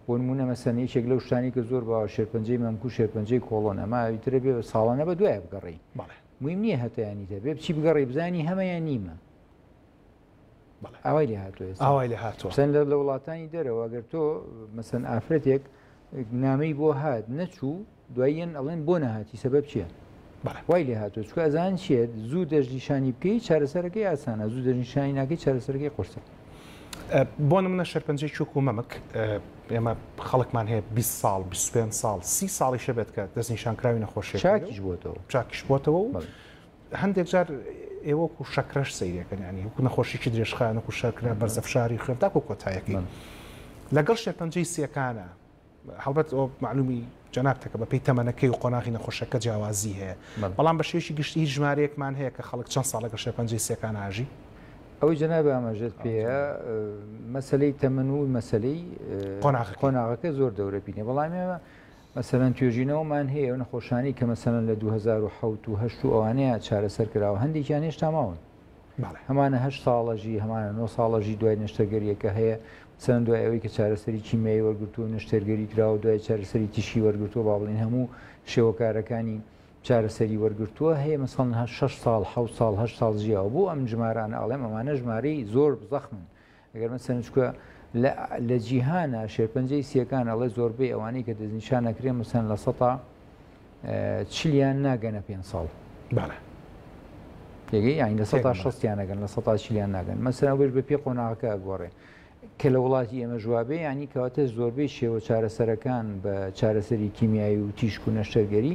بۆ نمونە مەسەن یەکێک لەو شتانی کە زۆر باوە شێرپەنجەی مەمکو شێرپەنجەی کۆڵۆن ئەمە ئیترە بێ ساڵانە بە دوای بگەڕی میم نییە هەتیانی دەبێ بچی بگەڕی بزانی هەمەیان نیمە ئاوای لێ هاتووەوای لە هاتووە سند لە وڵاتانی دەرەوە گەر تۆ مەسن ئافرەتێک نامەی بۆ هات نەچوو دواییەن ئەڵێن بۆ نەهاتی سەبەب چییە؟ وای لێ هاتو چکە ئەزان چێت زوو دەژنیشانی بکەیت چارەسەرەکەی ئاسانە زوو دەژنیشانی ناکەی چارەسەرەکەی قرسە بۆ منە شەرپەنجەی چوک و مەمک ئێمە خەڵکمان هەیە 20 ساڵ 25 ساڵ سی ساڵی شەبێت کە دەستنیشان کراوی نەخۆشی چاکیش بۆتەوە چاکیش بۆتەوە و هەندێک جار ئێوەک و شەکرەش سەیرەکەن ینی وکو نەخۆشیی درێژخانە و شەکرە بەرزە فشاری خوێن تاکو کۆتایەکەی لەگەڵ شێرپەنجەی سیەکانە هەڵبەت ئەو معلومی جەنابتەکە بە پێی تەمەەکەی و قۆناغی نەخۆشەکە جیاوازی هەیە بەڵام بە شێشی گشتی ژمارەیەکمان هەیە کە خەڵک چەند ساڵە گە شێرپەنجەی سیەکان ئاژی ئەوەی جەناب ئاماژێت پێ مەسلەی تەمەن و مەسلەی قۆناغەکە زۆر دەورە بینێ بەڵام ئێمە مەسەلەن توێژینەوەمان هەیە ئەو نەخۆشانەی کە مەسەلەن لە دوو هەزار و حەوت و هەشت و ئەوانەیە چارەسەر کراوە هەندێکیان هێشتا ماون بەڵێ هەمانە هەشت ساڵەژی هەمانە نۆ ساڵەژی دوای نەشتەرگەریەکە هەیە مەسەلەن دوای ئەوەی کە چارەسەری کیمیایی وەرگرتو و نەشتەرگەری کراوە و دوای چارەسەری تیشکی وەرگرتووە با بڵێن هەموو شێوەکارەکانی چارەسەری وەرگرتووە هەیە مەسەڵەن هە شەش ساڵ حەوت ساڵ هەشت ساڵ ژیاوە بۆ ئەم ژمارانە ئەڵێم ئەمانە ژمارەی زۆر زەخمن ئەگەر مەسەلەن چونکە لە جیهانە شێرپەنجەی سیەکان ئەڵێ زۆربەی ئەوانەی کە دەستنیشان نەکرێن مەسەن لە سەتا چلیان ناگەنە پێ ساڵ تێگەی یانی لە سەتا شستیانەگەن لە سەتا چلیان ناگەن مەسەن بێش بە پێ قۆناغەکە گۆڕێ کە لە وڵاتی ئێمە جوابێ ینی کەواتە زۆربەی شێوە چارەسەرەکان بە چارەسەری کیمیایی و تیشک و نەشتەرگەری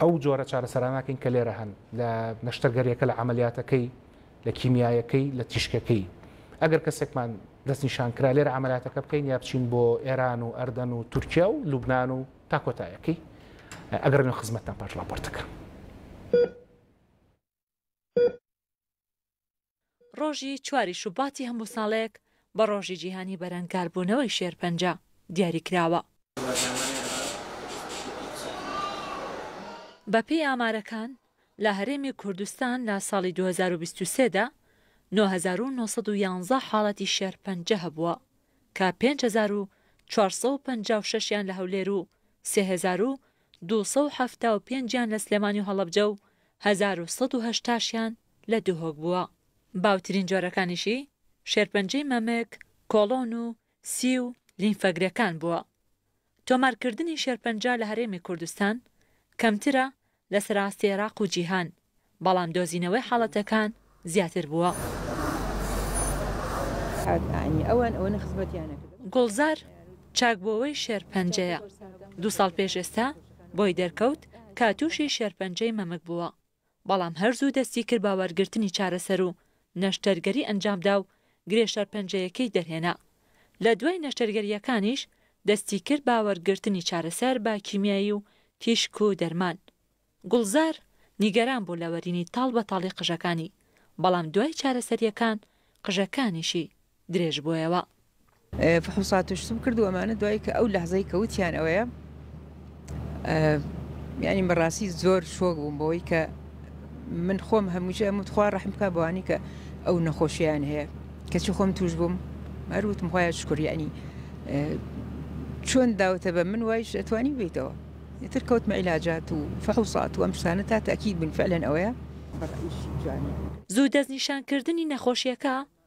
ئەو جۆرە چارەسەراناکەین کە لێرە هەن لە نەشتەرگەریەکە لە عملیاتەکەی لە کیمیایەکەی لە تیشکەکەی ئەگەر کەسێکمان دەستنیشان کرا لێرە عملیاتەکە بکەین یا بچین بۆ ئێران و ئەردەن و تورکیا و لوبناان و تاکۆتایەکەی ئەگەر نوێ خزمەتتان پاش لاپۆرتەکە. ڕۆژی چواری شوباتی هەموو ساڵێک بە ڕۆژی جیهانی بەرەنگاربوونەوەی شێرپەنجە دیاریکراوە. بەپێی ئامارەکان، لە هەرێمی کوردستان لە ساڵی دوو هەزار و بیست و سێ دا نۆ هەزار و نۆ سەد و یانزە حاڵەتی شێرپەنجە هەبووە کە پێنج هەزار و چوار سەد و پەنجا و شەش یان لە هەولێر و سێ هەزار و دوو سەد و حەفتا و پێنج یان لە سلێمانی و هەڵەبجە و هەزار و سەد و هەشتا شیان لە دهۆک بووە. باوترین جۆرەکانیشی، شێرپەنجەی مەمک، کۆڵۆن و سی و لیمفەگرێکان بووە. تۆمارکردنی شێرپەنجە لە هەرێمی کوردستان کەمترە لە سەراستی عێراق و جیهان، بەڵام دۆزینەوەی حاڵەتەکان زیاتر بووە. گوڵزار چاکبووەوەی شێرپەنجەیە، دوو ساڵ پێش ئێستا بۆی دەرکەوت کە تووشی شێرپەنجەی مەمک بووە، بەڵام هەر زوو دەستی کرد بە وەرگرتنی چارەسەر و نەشتەرگەری ئەنجامدا و گرێ شەرپەنجەیەکەی دەرهێنا. لە دوای نەشتەرگەرییەکانیش دەستی کرد بە وەرگرتنی چارەسەر بە کیمیایی و تیشک و دەرمان. گوڵزار نیگەران بوو لە وەرینی تاڵ بە تاڵی قژەکانی، بەڵام دوای چارەسەرییەکان قژەکانیشی درێژ بۆیەوە. فحوصاتش سم کرد و ئەمانە دوای کە ئەو لەحزەی کە وتیان ئەوەیە یانی بەڕاستی زۆر شۆک بووم بەوەی کە من خۆم هەمووچە ئەم تخوا ڕحم بکە بەوانی کە ئەو نەخۆشیان هەیە کەچی خۆم توش بووم مەروتم خۆیان شکر یعنی چۆن داوتە بە من وایش ئەتوانی بیتەوە ئیتر کەوتمە عیلاجات و فحوسات و ئەم شتانە تا تاکیید بن فعلەن ئەوەیە زوو دەستنیشانکردنی نەخۆشیەکە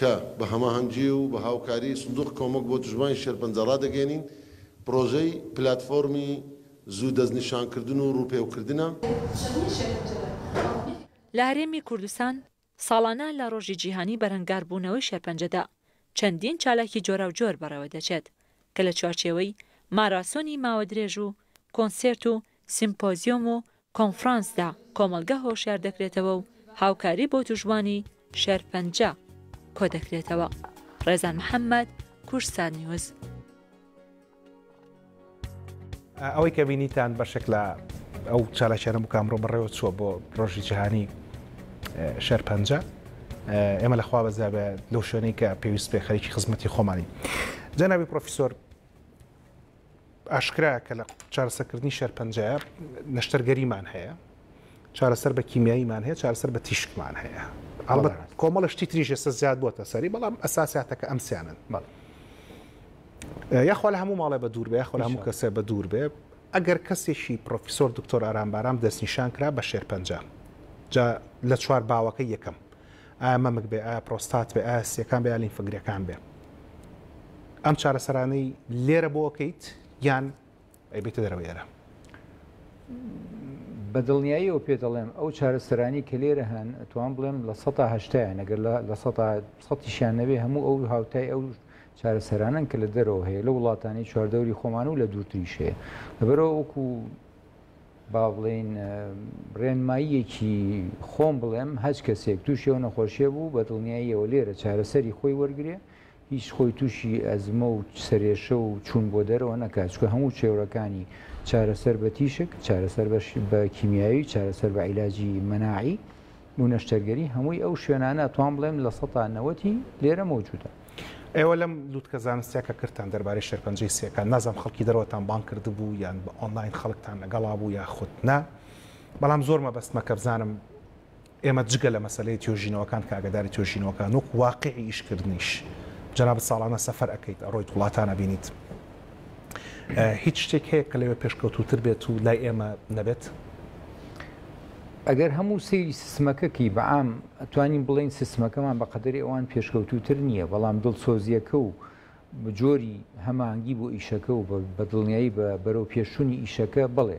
کە بە هەماهەنگی و بە هاوکاریی سندووقی کۆمەک بۆ دژبانی شێرپەنجە ڕادەگەیەنین، پڕۆژەی پلاتفۆرمی زوو دەستنیشانکردن و ڕووپێوکردنە. لە هەرێمی کوردستان ساڵانە لە ڕۆژی جیهانی بەرەنگاربوونەوەی شێرپەنجەدا چەندین چالاکی جۆراوجۆر بەڕێوەدەچێت کە لە چوارچێوەی ماراسۆنی ماوەدرێژ و کۆنسێرت و سیمپۆزیۆم و کۆنفرانسدا کۆمەڵگە هۆشیار دەکرێتەوە و هاوکاری بۆ توشبوانی شێرپەنجە کۆدەکرێتەوە. ڕێزان محەمەد، کوردستان نیوز. ئەوەی کە بینیتان بەشێک لە ئەو چالاکیانە بوو کە ئەمڕۆ بەڕێوە چووە بۆ ڕۆژی جیهانی شەرپەنجە ئێمە لەخوا بەزیابە لەو شوێنەی کە پێویست پێ خەریکی خزمەتی خۆمانی جەنابی پرۆفیسۆر ئاشکرایە کە لە چارەسەکردنی شەرپەنجەیە نەشتەرگەریمان هەیە چارەسەر بە کیمیاییمان هەیە چارەسەر بە تیشکمان هەیە ئەڵبەت کۆمەڵە شتی تریژە سە زیاد بووە سەری بەڵام ئەساساتەکە ئەمسیانن بەڵ یاخوا لە هەموو ماڵێ بە دوور بێ خۆ هەموو کەسێ بە دوور بێ ئەگەر کەسێکی پرۆفیسۆر دکتۆر ئارام بارام دەستنیشان کرا بە شێرپەنجە جا لە چوار باوەکە یەکەم ئایا مەمک بێ، ئایا پرۆستات بێ، ئایا سییەکان بێ، ئایا لیمفگرێکان بێ. ئەم چارەسەرانەی لێرە بۆ ئەکەیت یان ئەیبەیتە دەرەوەی ئێرە؟ بە دڵنیاییەوە پێت دەڵێم ئەو چارەسەرانی کە لێرە هەن ئەتوام بڵێم لە سەدا هەشتایان ئەگەر لە سەدا سەدیشیان نەبێ هەموو ئەو هاوتای ئەو چارەسەرانن کە لە دەرەوە هەیە لە وڵاتانی چواردەوری خۆمان و لە دوورتریش هەیە لەبەرەوە وەکو با بڵێین ڕێنماییەکی خۆم بڵێم هەچ کەسێک تووشی ئەو نەخۆشیە بوو بە دڵنیاییەوە لێرە چارەسەری خۆی وەرگێ هیچ خۆی تووشی ئەزمە و سەرێشە و چوون بۆ دەرەوە نەکات چکە هەموو چێوەکانی چارەسەر بە تیشک چارەسەر بە کیمیایی چارەسەر بە عیلاجی مەناعی بۆ نەشتەرگەری هەمووی ئەو شوێنانە ئەتوان بڵێم لە سەتا نەوەتی لێرە مەوجودە. ئێوە لەم لوتکە زانستیە کە کردتان دەربارەی شێرپەنجەی سیەکان نازانم خەڵکی دەرەوەتان بانگ کردبوو یان بە ئۆنلاین خەڵکتان لەگەڵا بوو یاخود نا بەڵام زۆر مەبەستمە کە بزانم ئێمە جگە لە مەسەلەی توێژینەوەکان کە ئاگاداری توێژینەوەکان وەک واقعی ئیشکردنیش جەنابت ساڵانە سەفەر ئەکەیت ئەڕۆیت وڵاتان ئەبینیت هیچ شتێک هەیە کە لەوێ پێشکەوتووتر بێت و لای ئێمە نەبێت؟ ئەگەر هەموو سەیری سیستمەکەکی بە عام توانین بڵین سیستمەکەمان بە قەدەری ئەوان پێشکەوتووتر نییە بەڵام دڵسۆزیەکە و جۆری هەمانگی بۆ ئیشەکە و بە دڵنیایی بە بەرەو پێشوونی ئیشەکە بڵێ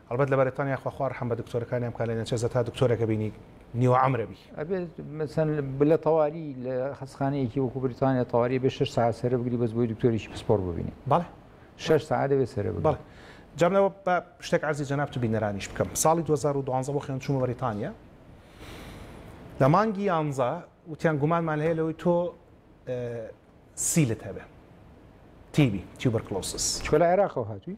ئەڵبەت لە بەریتانیا خوا خوا ڕەحم بە دکتۆرەکانیان بکا لە نێچێرس هەتا دکتۆرەکە بینی نیوە عەمرە بی. ئەبێ مەسەن بلە تەواری لە خەسخانەیەکی وەکو بریتانیا تەواری ئەبێ شەش سەعات سەرە بگری بەس بۆی دکتۆرێکی پسپۆڕ ببینی. بەڵێ. شەش سەعات دەبێ سەرە بگری. بەڵێ. جام لەوە با شتێک عەرزی جەنابت و بینەرانیش بکەم. ساڵی دوو هەزار و دوازدە بۆ خوێندن چوومە بەریتانیا. لە مانگی یانزە وتیان گومانمان هەیە لەوەی تۆ سیلت هەبێ. TB، Tuberculosis. چکۆ لە عێراقەوە هاتووی؟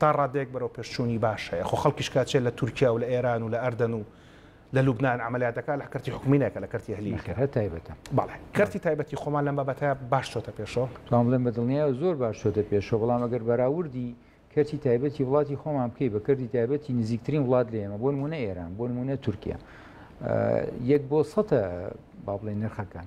تا ڕادەیەک بەرەوپێشچوونی باش هەیە، خۆ خەڵکیش کە ئەچێت لە تورکیا و لە ئێران و لە ئەردەن و لە لوبنان عەمەلیات ئەکات لە کەرتی حکومی نایکات لە کەرتی ئەهلی ئەکات. نەخێر هەر تایبەتە. بەڵێ. کەرتی تایبەتی خۆمان لەم بابەتە باش چۆتە پێشەوە. توام بڵێم بە دڵنیایەوە زۆر باش چۆتە پێشەوە، بەڵام ئەگەر بەراوردی کەرتی تایبەتی وڵاتی خۆمان بکەی بە کەرتی تایبەتی نزیکترین وڵات لە ئێمە، بۆ نموونە ئێران، بۆ نموونە تورکیا، یەک بۆ سەتە با بڵێین نرخەکان.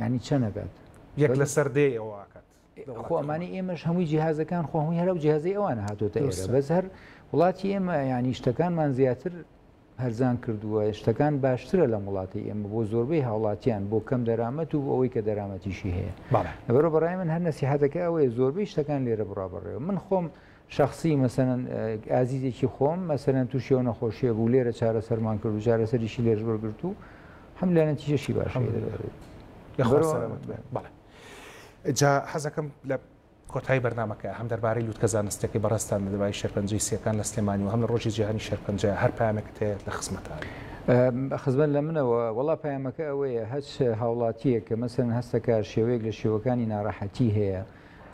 یانی چەند ئەکات یەک لەسەر دێ ئەوە ئاکات خۆ ئەمانی ئێمەش هەمووی جیهازەکان خۆ هەمووی هەرو جیهازی ئەوان هاتۆتە ئێستا بەس هەر وڵاتی ئێمە ینی شتەکانمان زیاتر هەرزان کردووە شتەکان باشترە لە وڵاتی ئێمە بۆ زۆربەی هاوڵاتیان بۆ کەم دەرامەت و ئەوەی کە دەرامەتیشی هەیە لەبەرە بەڕای من هەر نسیحاتەکە ئەوەیە زۆربەی شتەکان لێرە بڕابڕێەوە من خۆم شەخسی مەسەلەن ئازیزێکی خۆم مەسەلەن تووشی ئەو نەخۆشیە بوو لێرە چارەسەرمان کرد و چارەسەریشی لێرش وەرگرت و هەملا نەتیجەشی باش جا حەزەکەم لە کۆتایی بەرنمەکە هەم دەربارەی لوتکە زانستەکەی بەڕستان لە دەبای شەرپەنجەی سیەکان لە سلێمانی و هەم لە ڕۆژی جیهانی شەرپەنجە هەر پامەکە هەیە لە خزمەتە خزمەت لە منەوە وڵا پامەکە ئەوەیە هەچ هاوڵاتیە کە مەسەن هەستەکە شێوەیەک لە شێوەکانی ناڕەحەتی هەیە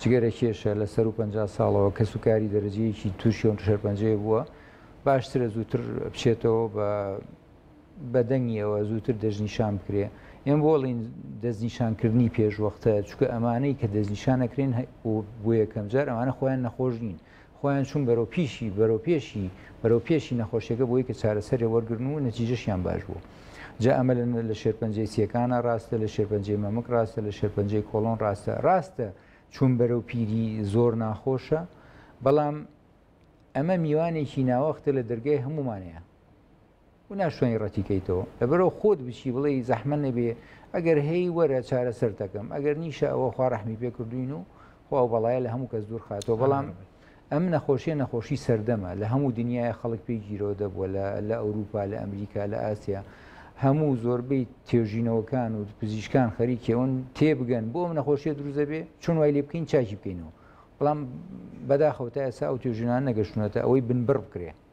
جگەرە کێشە، لە سەروو پەنجا ساڵەوە کەسوکاری دەرەجەیەکی تووشی ئەو شەرپەنجەیە بووە، باشترە زووتر بچێتەوە بە بە دەنگیەوە زووتر دەستنیشان بکرێ. ئێمە بۆ ئەڵێن دەستنیشانکردنی پێشوەختە، چونکە ئەمانەی کە دەستنیشان ئەکرێن و بۆ یەکەمجار ئەمانە خۆیان نەخۆش نین. خۆیان چوون بەرەو پیشی، بەرەو پێشی، بەرەو پێشی نەخۆشیەکە بۆی کە چارەسەرێ وەرگرن و نەتیجەشیان باش بوو. جا ئەمە لە لە شێرپەنجەی سیەکانە ڕاستە، لە شێرپەنجەی مەمک ڕاستە، لە شێرپەنجەی کۆڵۆن ڕاستە. ڕاستە چوون بەرەو پیری زۆر ناخۆشە، بەڵام ئەمە میوانێکی ناوەختە لە دەرگای هەموومانێ. و ناشتوانی ڕەتی کەیتەوە لەبەرو خۆت بچی بڵێی زەحمە نەبێ ئەگەر هەی وەرە چارەسەرتەکەم ئەگەر نیشە ئەوە خوا ڕەحمی پێ کردوین و خوا ئەو بەڵایە لە هەموو کەس دوور خاتەوە بەڵام ئەم نەخۆشیە نەخۆشی سەردەمە لە هەموو دنیای خەڵک پێی گیرۆ دەبووە لە ئەوروپا لە ئەمریکا لە ئاسیا هەموو زۆربەی توێژینەوەکان و پزیشکان خەریکەون تێبگەن بۆ ئەم نەخۆشیە دروزە بێ چۆن وای لێ بکەین چاکی بکەینەوە بەڵام بەداخەوتە ئێسا ئەو توێژینان نەگەشتونەتە ئەوەی بنبڕ بکرێ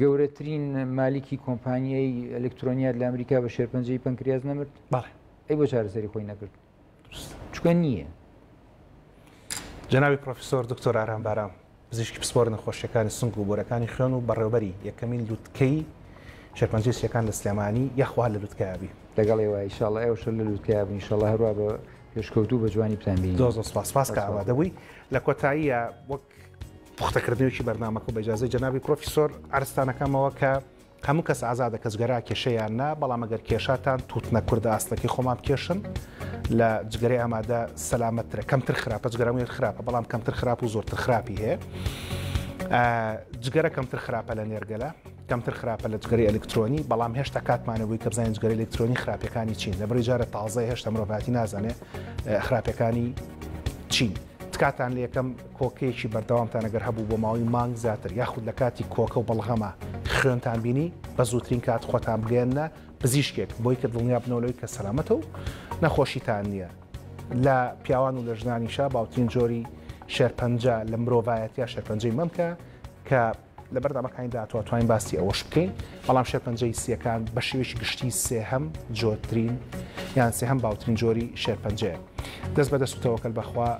گەورەترین مالیکی کۆمپانیای ئەلکترۆنیات لە ئەمریکا بە شێرپەنجەی پەنکریاز نەمرد بەڵێ ئەی بۆ چارەسەری خۆی نەکرد چکە نییە جناوی پرۆفیسۆر دکتۆر ئارام بارام پزیشکی پسپۆر نەخۆشیەکانی سنگ و بۆرەکانی خوێن و بەڕێوبەری یەکەمین لوتکەی شێرپەنجی سیەکان لە سلێمانی یاخوا لە لوتکابی لەگەڵ ێوە ئیشاڵە ئێوشە لە لوتکاب نیشەڵە هەروە بە پێشکەوتو بە جوانی پلانبی زۆ زۆ سپاس سپاس کە ئامادەبووی لە کۆتاییە وەک پوختەکردنەوەیەکی بەرنامەکە و بە ئیجازەی جەنابی پرۆفیسۆر عەرزتان ئەکەمەوە کە هەموو کەس ئازادە کە جگەرا کێشە یان نا بەڵام ئەگەر کێشاتان تووتنە کوردە ئاستەکەی خۆمان بکێشن لە جگەرەی ئامادە سەلامەتترە کەمتر خراپە جگەرەمێت خراپە بەڵام کەمتر خراپ و زۆرتر خراپی هەیە جگەرە کەمتر خراپە لە نێرگەلە کەمتر خراپە لە جگەرەی ئەلکترۆنی، بەڵام هێشتا کاتمان نەبووی کە بزانین جگەرەی ئەلکترۆنی خراپیەکانی چین، لە بڕی جارە تازەیە هێشتا مرۆڤایەتی نازانێ خراپیەکانی چین. تکاتان لە یەکەم کۆکەیەکی بەردەوامتان ئەگەر هەبوو بۆ ماوەی مانگ زیاتر یاخود لە کاتی کۆکە و بەڵغەمە خوێنتان بینی بە زووترین کات خۆتان بگەێنە پزیشکێک بۆی کە دڵنیا بنەوەی کە سەلامەتە و نەخۆشیتان نییە لە پیاوان و لە ژنانیشە باوترین جۆری شێرپەنجە لە مرۆڤایەتە شێرپەنجەی مەمکە کە لە بەرنامەکانی داهاتوا توانین باسی ئەوەش بکەین بەڵام شێرپەنجەی سیەکان بە شێوەیەکی گشتی سێهەم جۆترین یان سێهەم باوترین جۆری شێرپەنجەیە دەست بە دەستوتەوەکەل بەخوا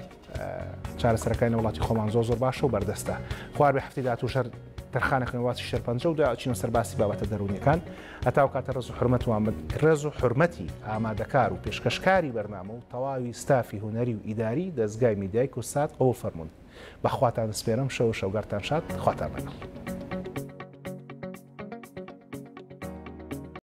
چارەسەرەکانی وڵاتی خۆمان زۆ زۆر باشە و بەردەستە خوار بە هەفتی داات و شەر تەرخانە خوێنواتی شێرپەنجە و داچینە سەرباسی بابەتە دەرونیەکان هەتا و کاتە ڕز و حرمەتوان من ڕێز و حرمەتی ئامادەکار و پێشکەشکاری بەرنامە و تەواوی ستافی هوەری و ئیداری دەستگای میدای کوسات ئەو فەرمونون بە خواتان سپێرم شەو و شەوگەرتان شاد خواتان لەگەڵ.